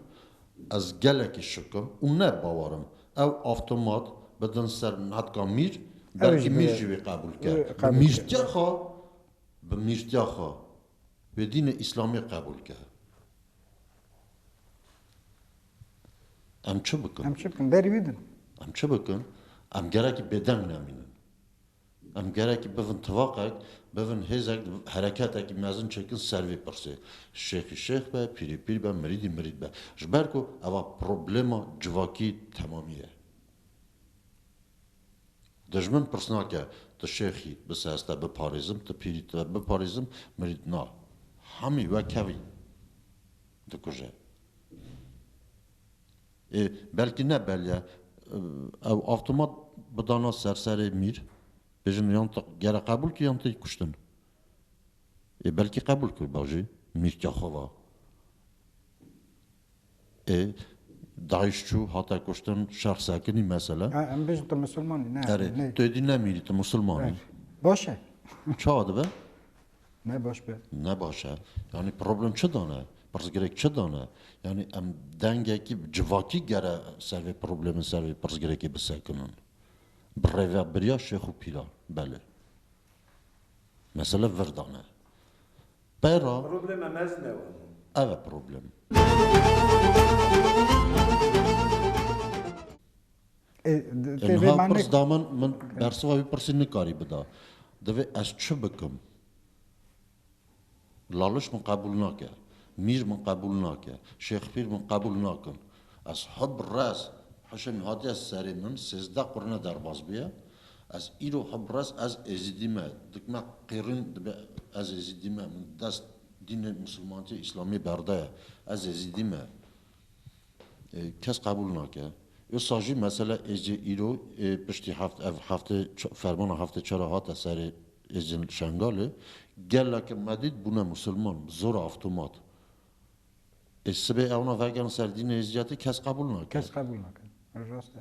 ez gelekî şik im û ne bawer im. Ew avtomat bidin ser netka mîr, belkî mîr jî wê qebûl ke. Bi mîrtiya xwe, bi mîrtiya xwe wê dînê îslamê qebûl ke. Em çi bikin? Em çi bikin? Berî wî din. Em çi bikin? Em gerekî bêdeng nemînin. Em gerekî bivin tivaqek, bivin hêzek, hereketekî mezin çêkin ser vê pirsê. Şêxî şêx be, pîrî pîr be, mirîdî mirîd be. Ji ber ku eva problema civakî temamî ye. Dijmin pirs nake tu şêxî bi se ez te biparêzim, tu pîrî te biparêzim, mirîd na. Hemî wek hevî dikuje. Ê belkî ne beliya ew avtomat bidana ser serê mîr bêjin yan te gere qebûl kir yan te yê kuştin. Ê belkî qebûl kiriba jî mîrka xwe va. Ê DAIŞ çû hate kuştin şer sekinî mesele. He em bêjin tu musulman î ne. Erê tu êdî ne mîrî tu musulman î. Baş e. Çawa dibe? Ne baş be. Ne baş e. Yanî problem çi dane? Pirsgirêk çi dane? Yanî em dengekî civakî gere ser vê problemê, ser vê pirsgirêkê bisekinin. Bi rêvebiriya şêx û pîran. Belê. Mesele vir dane. Peyra. Problema mezin ew e. Ev e problem. Niha pirs da min, min bersiva vî pirsî nikarî bida. Divê ez çi bikim? Laliş min qebûl nake, mîr min qebûl nake, şêxpîr min qebûl nakin. Ez hi bi rez, hişên hatiye serê min, sêzdeh qurine derbas bûye. Ez îro hi bi rez ez êzîdî me, dik me qêrîn dibe ez êzîdî me, min dest dînê misilmantiyê îslamiyê berdaye, ez êzîdî me. Kes qebûl nake. Usa jî mesela êzê îro ê piştî heft ev heftê fermana heftê çar a hate serê êzên li Şengalê geleke medîd bûne musilman bi zora avtomat. Ê sibê ewna vegerin ser dînê êziyatê kes qebûl nake. Kes qebûl nake. Rast e.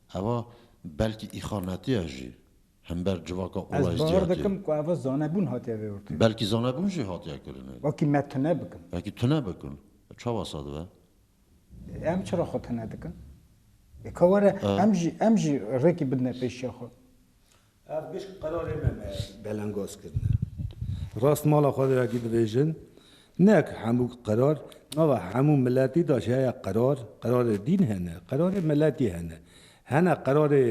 Eva belkî îxanetiye jî hember civaka Ez Olayscî bawer hatiye. dikim ku eva zanebûn hatiye vêwirkirin. Belkî zanebûn jî hatiye kirinê. Wekî me tune bikin. Wekî tune bikin. Çawa sa dibe? Em çira xwe tune dikin? Ê ka were em jî em jî rêkî bidine pêşiya xwe. Ev gişt qerarê me me. Belengaz kirine. Rast mala xwe de wekî dibêjin, neke hemû qerar nava hemû miletî de jî heye qerar, qerarê dîn hene, qerarê miletî hene. Hene qerarê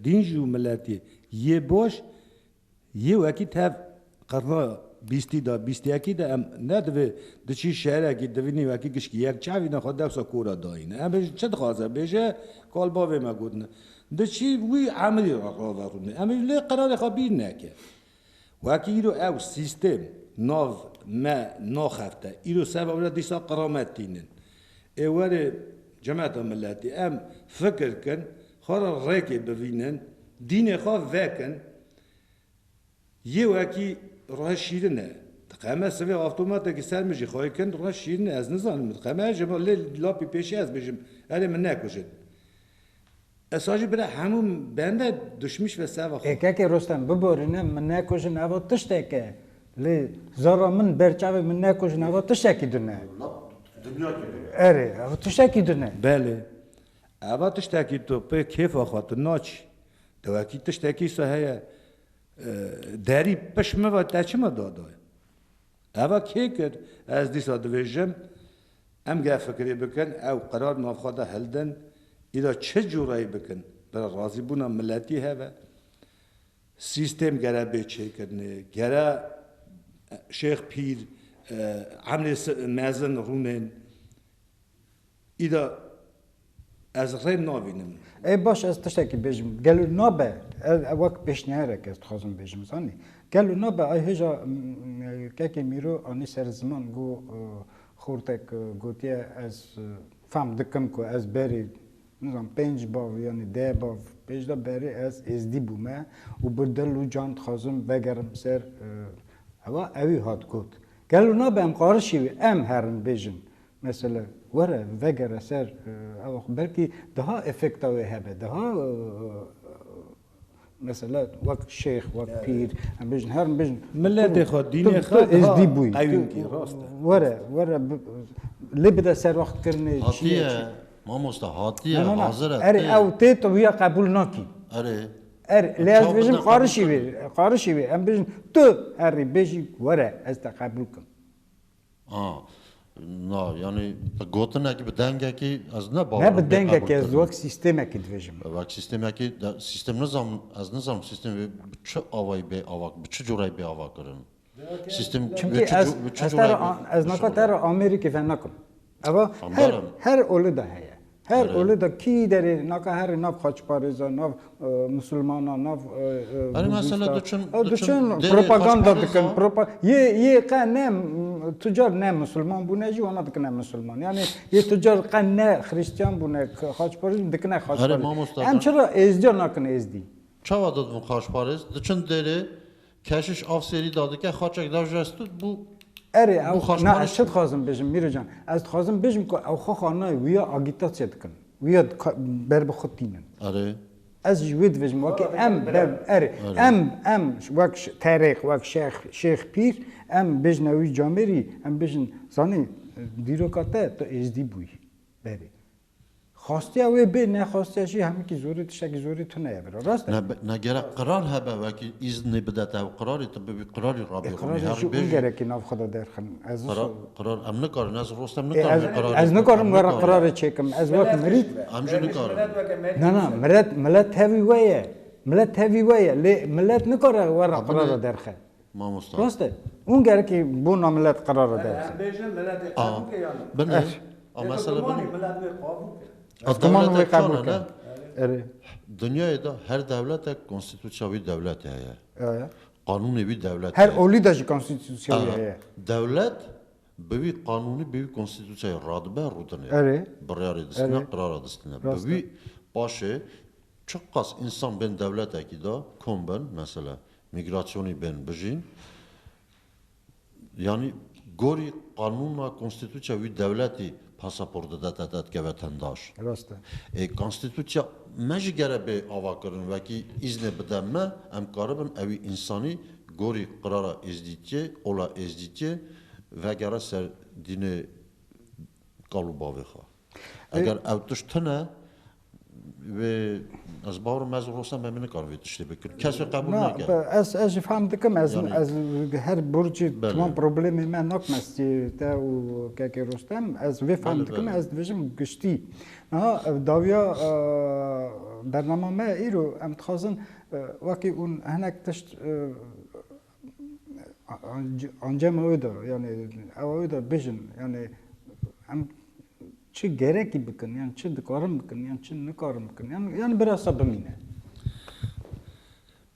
dîn jî û miletî yê baş yê wekî tev. Qarna bîstî de, bîst yekî de em ne divê di çi şerekî divînî wekî gişkî yek çavîne xwe dewsa ku re dayîne. Em bêjin çi dixwaze bêje kal bavê me gotine. Di çi wî emirî re raverûne. Em bêjin lê qerarê xwe bîr neke. Wekî îro ew sîstêm nav me naxefte. Îro ser bavê re dîsa qeramet tînin. Ê werê cemeta miletî em fikir kin, xwe re rêkê bivînin, dînê xwe vekin. Yê wekî rihê şîrin e. Diqeme sivê avtomatekî ser min jî xweyî kin rihê şîrin e ez nizanim min diqeme e ji bo lê lapî pêşî ez bijim erê min nekujin. Ez sa jî bira hemû bende duşmîş ve seva xwe. Ekekê Rostem biborîne min nekujin eva tiştek e. Lê zora min berçavê min nekujin eva tiştekî din e. Dinya kî din e. Erê eva tiştekî din e. Belê. Eva tiştekî tu pê kêfa xwe tu naçî. Dewekî tiştekî îsa heye. Derî pişt min ve te çima dadaye? Eva kê kir? Ez dîsa dibêjim em ger fikirê bikin ew qerar nav xwe de hildin îro çi cureyê bikin bila razîbûna miletî hebe. Sîstêm gere bê çêkirinê, gere şêx pîr, emrê mezin rûnên. Îda ez rê nabînim. Ê baş ez tiştekî bêjim. Gelo nabe ev wek pêşniyarek ez dixwazim bêjim zanî. Gelo nabe ay hêja Kekê Mîro anî ser ziman got xortek gotiye ez fehm dikim ku ez berî nizam pênc bav yanî deh bav pêşde berî ez êzdî bûme û bi dil û can dixwazim vegerim ser hewa ewî hat got. Gelo nabe em qarişî em herin bêjin Mesela, were, vegere ser ew xwe belkî daha efekta wê hebe, daha mesela wek şêx, wek pîr, em bijin her em bijin. Miletê xwe, dînê xwe daha qewî bikî, rast e. Were, were lê bide serwextkirinê çi ye çi. Mamosta hatiye, hazir e. Erê ew tê tu wiya qebûl nakî. Erê. Erê lê ez dibêjim qarişî wê, qarişî wê. Em bijin tu herî bêjî were ez te qebûl bikim. Na, yanî bi gotinekî, bi dengekî ez ne bawer Ne bi dengekî, ez wek sîstemekî dibêjim. Wek sîstemekî, sîstem nizam, ez nizanim sîstem bi çi awayî bê ava, bi çi corayî bê avakirin. Sîstem Çimkî ez ez te re ez naka te re amêrîkê venekim. Eva her her oli de heye. Her oli de kî derê naka herê nav xaçparêza, nav misilmana, nav diçin propaganda dikin. Yê yê qe ne tucar ne misilman bûne jî wana dikine misilman. Yanî yê tucar qe ne xirîstiyan bûne xaçparêz jî dikine xaçparêz. Em çira êzdiya nakin êzdî. Çawa didivin xaçparêz? Diçin derê Keşiş av sêrî dadike xaçek da ji ez tut bû. Erê ew na ez çi dixwazim bijim Mîro can ez dixwazim bijim ku ew xwe xwe nayê wîya agîtasyê dikin wîya ber bi xwe tînin. Erê. Ez ji wê dibijim wekî em ber erê em em wek terêx wek şex şêx pîr em bijne wî camêrî em bijin zanî dîroka te tu êzdî bûyî berê. Xastiya wê bê, nexastiya jî hemikî zorî tiştekî zorî tune ye biro. Rast e? Ne ne gerek qirar hebe wekî îznî bide te ew qirarî tu bibî qirarî rabî xwe mî herî bêjî. Gerekî nav xwe de derxin. Ez qirar qirar em nikarin ez rostem nikarim wê qirarî. Ez nikarim were qirarê çêkim. Ez wek mirî. Em jî nikarin. Na na milet milet tevî we ye. Milet tevî we ye. Lê milet nikare were qirara derxe. Mamosta. Rast e. Hûn gerekî bona milet qerar re derbixin. Em bêjin miletê qebûl ke yan na? Binê. Eş. A mesela binê. Dewlemanê milet wê qabûl ke. A ziman wê qebûl ke. Erê. Dinyayê de her dewletek konstîtûsya wî dewletê heye. Aya. Qanûnê wî dewletê heye. Her olî de jî konstîtûsya wî heye. Dewlet bi wî qanûnî bi wî konstîtûsyayê radibe rûdinê. Erê. Biryarê distîne, qerara distîne. Bi wî paşê çiqas însan bên dewletekî de kom bin mesela Mîgrasyonî bên bijîn yanî gorî qanûna konstîtûçya wî dewletî pasaport dide te te dikeve tendaş. Rast e. Ê konstîtûçya me jî gere bê avakirin wekî îznê bide me em karibin ewî însanî gorî qirara Êzdîtiyê, ola Êzdîtiyê vegere ser dînê kal û bavê xwe. Eger ew tişt tune Wê ez bawer me zor olsa me mi nikar vê tiştê bikir. Kes wê qebul nake. Ez ez jî fam dikim ez yani, ez her burcî tamam problemê me nak mestî te û kekê Rostem ez vê fam dikim ez dibêjim giştî. Niha dawiya bernama me îro em dixwazin wekî hûn hinek tişt Ancama wê de yanê ewa wê de bijin yanê em çi gerekî bikin yan çi dikarin bikin yan çi nikarin bikin yan yan birasa bimîne.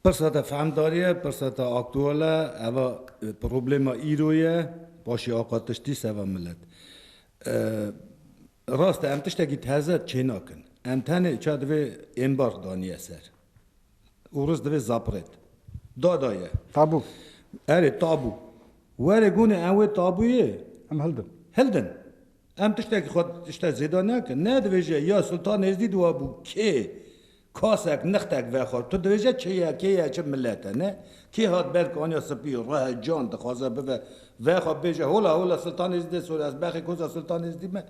Pirsa te fehmdarî ye, pirsa te aktual e, eva problema îro ye, paşê axa tiştî seva milet. Rast e em tiştekî teze çênakin. Em tenê ça divê êmbar daniye ser û riz divê zapirêt. Da da ye. Tabu. Erê tabu. Were gunê em wê tabuyê. Em hildin. Hildin. Em tiştekî xwe tişte zêda nekin. Ne divê jî ya Sultan Êzdî di we bû kê Kasek, nixtek vexwe. Tu dibêje kê ye, kê ye çi milet e, ne? Kê hat ber ku aniya spî, rih e, can dixwaze bibe, vexwe bêje, Hola, hola, Sultan Êzidê sor, ez bexê koza Sultan Êzidî me.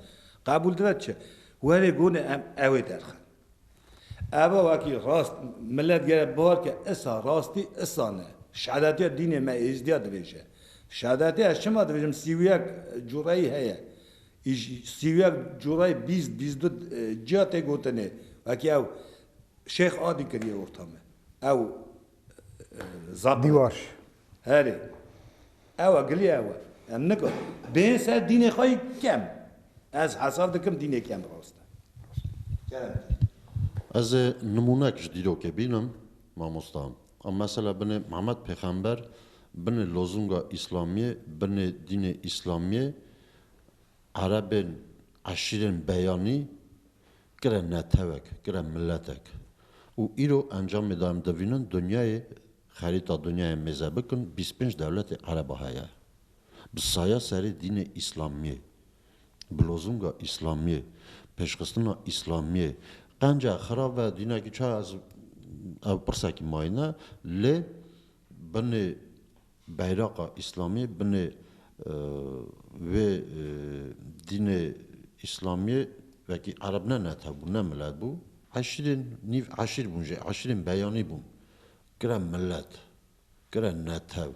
Qebûl dibe çi? Werê gonê em ewê derxin. Eva wekî rast milet gere bibar ke isa rastî isa ne. Şehdetiya dînê me Êzidîya dibêje. Şehdetiya ez çima dibêjim sî û yek cureyî heye. Îş sîwek cureyê bîst bîst du ciya tê gotinê. Wekî ew Şêx Adî kirîyê orta me. Ew zap e. Dîwar. Herê. Ew e gilî ew e. Em nika bêyên ser dînê xwe yî kem. Ez hesab dikim dînê kem rast e. Kerem tê. Ez ê nimûnek ji dîrokê bînim, mamosta. A mesela binê Mihemed Pêxember, binê lozunga Îslamiyê, binê dînê Îslamiyê, Erebên, eşîrên beyanî kire netewek, kire miletek. Û îro encamê de em divînin dinyayê, xerîta dinyayê mêze bikin, bîst pênc dewletê Ereba heye. Bi saya serê dînê Îslamiyê. Bilozunga îslamiyê, pêşxistina îslamiyê qenca xirab ve dînekî çaye ez ev pirsekî mayîne lê binê beyraqa îslamiyê binê wê dînê îslamiyê wekî ereb ne netew bû ne milet bû eşîrên nîv eşîr bûn jî eşîrên beyanî bûn kire milet Kire ne tev,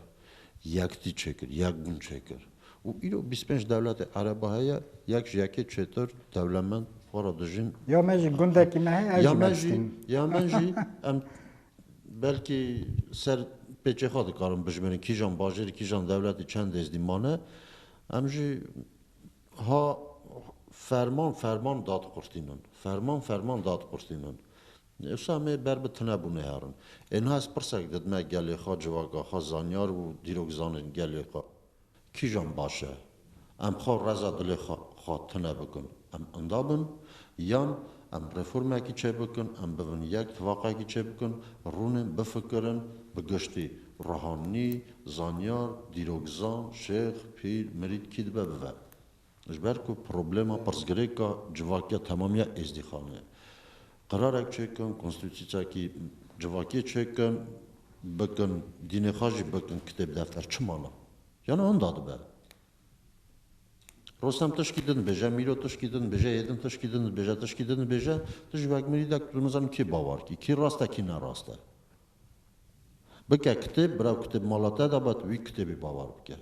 yek tî çêkir, yek bûn çêkir. Û îro bîst pênc dewletê Ereba heye, yek ji yekê çêtir, dewlemend, xwe ra dijîn. Ya me jî gundekî me heye, ev jî me diştin. Ya me jî, em belkî ser pêçê xwe dikarin bijimêrin, kîjan bajêrî, kîjan dewletî, çend êzdî mane. Em jî ha ferman ferman dad qurtînin. Ferman ferman dad qurtînin. Ewsa me ber bi tunebûnê herin. Ê niha ez pirsek didime gelê xwe, civaka xwe, zanyar û dîrokzanên gelê xwe kîjan baş e? Em xwe reza dilê xwe xwe tune bikin, em inda bin? Yan em reformekî çêbikin, em bibin yek, tifaqekî çêbikin, rûnin, bifikirin, bi giştî, ruhanî, zanyar, dîrokzan, şêx, pîr, mirîd kî dibe bibe. Ji ber ku problema pirsgirêka civakiya temamiya Êzdîxanê ye. Qerarek çêkin, konstitûsyakî civakiyê çêkin, bikin dînê xwe jî bikin kitêb defter çi mana? Yan wenda dibe? Rostem tişkî din dibêje, Mîro tişkî din dibêje, Êdin tişkî din dibêje, tişkî din dibêje, tu ji wek mirîdek tu nizanî kê bawer kî, kî rast e kî ne rast e. Bike kitêb, bira kitêb mala te de be, tu wî kitêbê bawer bike.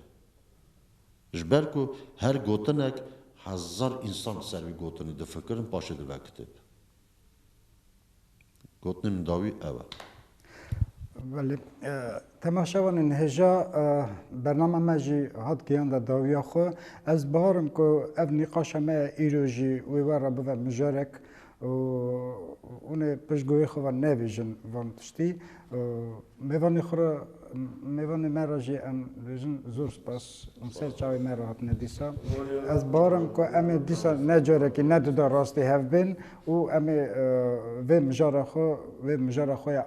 Ji ber ku her gotinek hezar însan li ser vî gotinê difikirin paşê dibe kitêb. Gotinê min dawî ew e. Belê. Temaşe wan in hêja bernama me jî hat gihanda dawiya xwe. Ez biharim ku ev nîqaşa me ya îro jî wê wer re bibe mijarek. û hûn ê piştgûyê xwe ve nebêjin van tiştî. Mêvanê xwe re, mêvanê me re jî em dibêjin zor spas. Hûn ser çavê me re hatine dîsa. Ez bawer im ku em ê dîsa ne carekî ne duda rastî hev bên û em ê vê mijara xwe, vê mijara xwe ya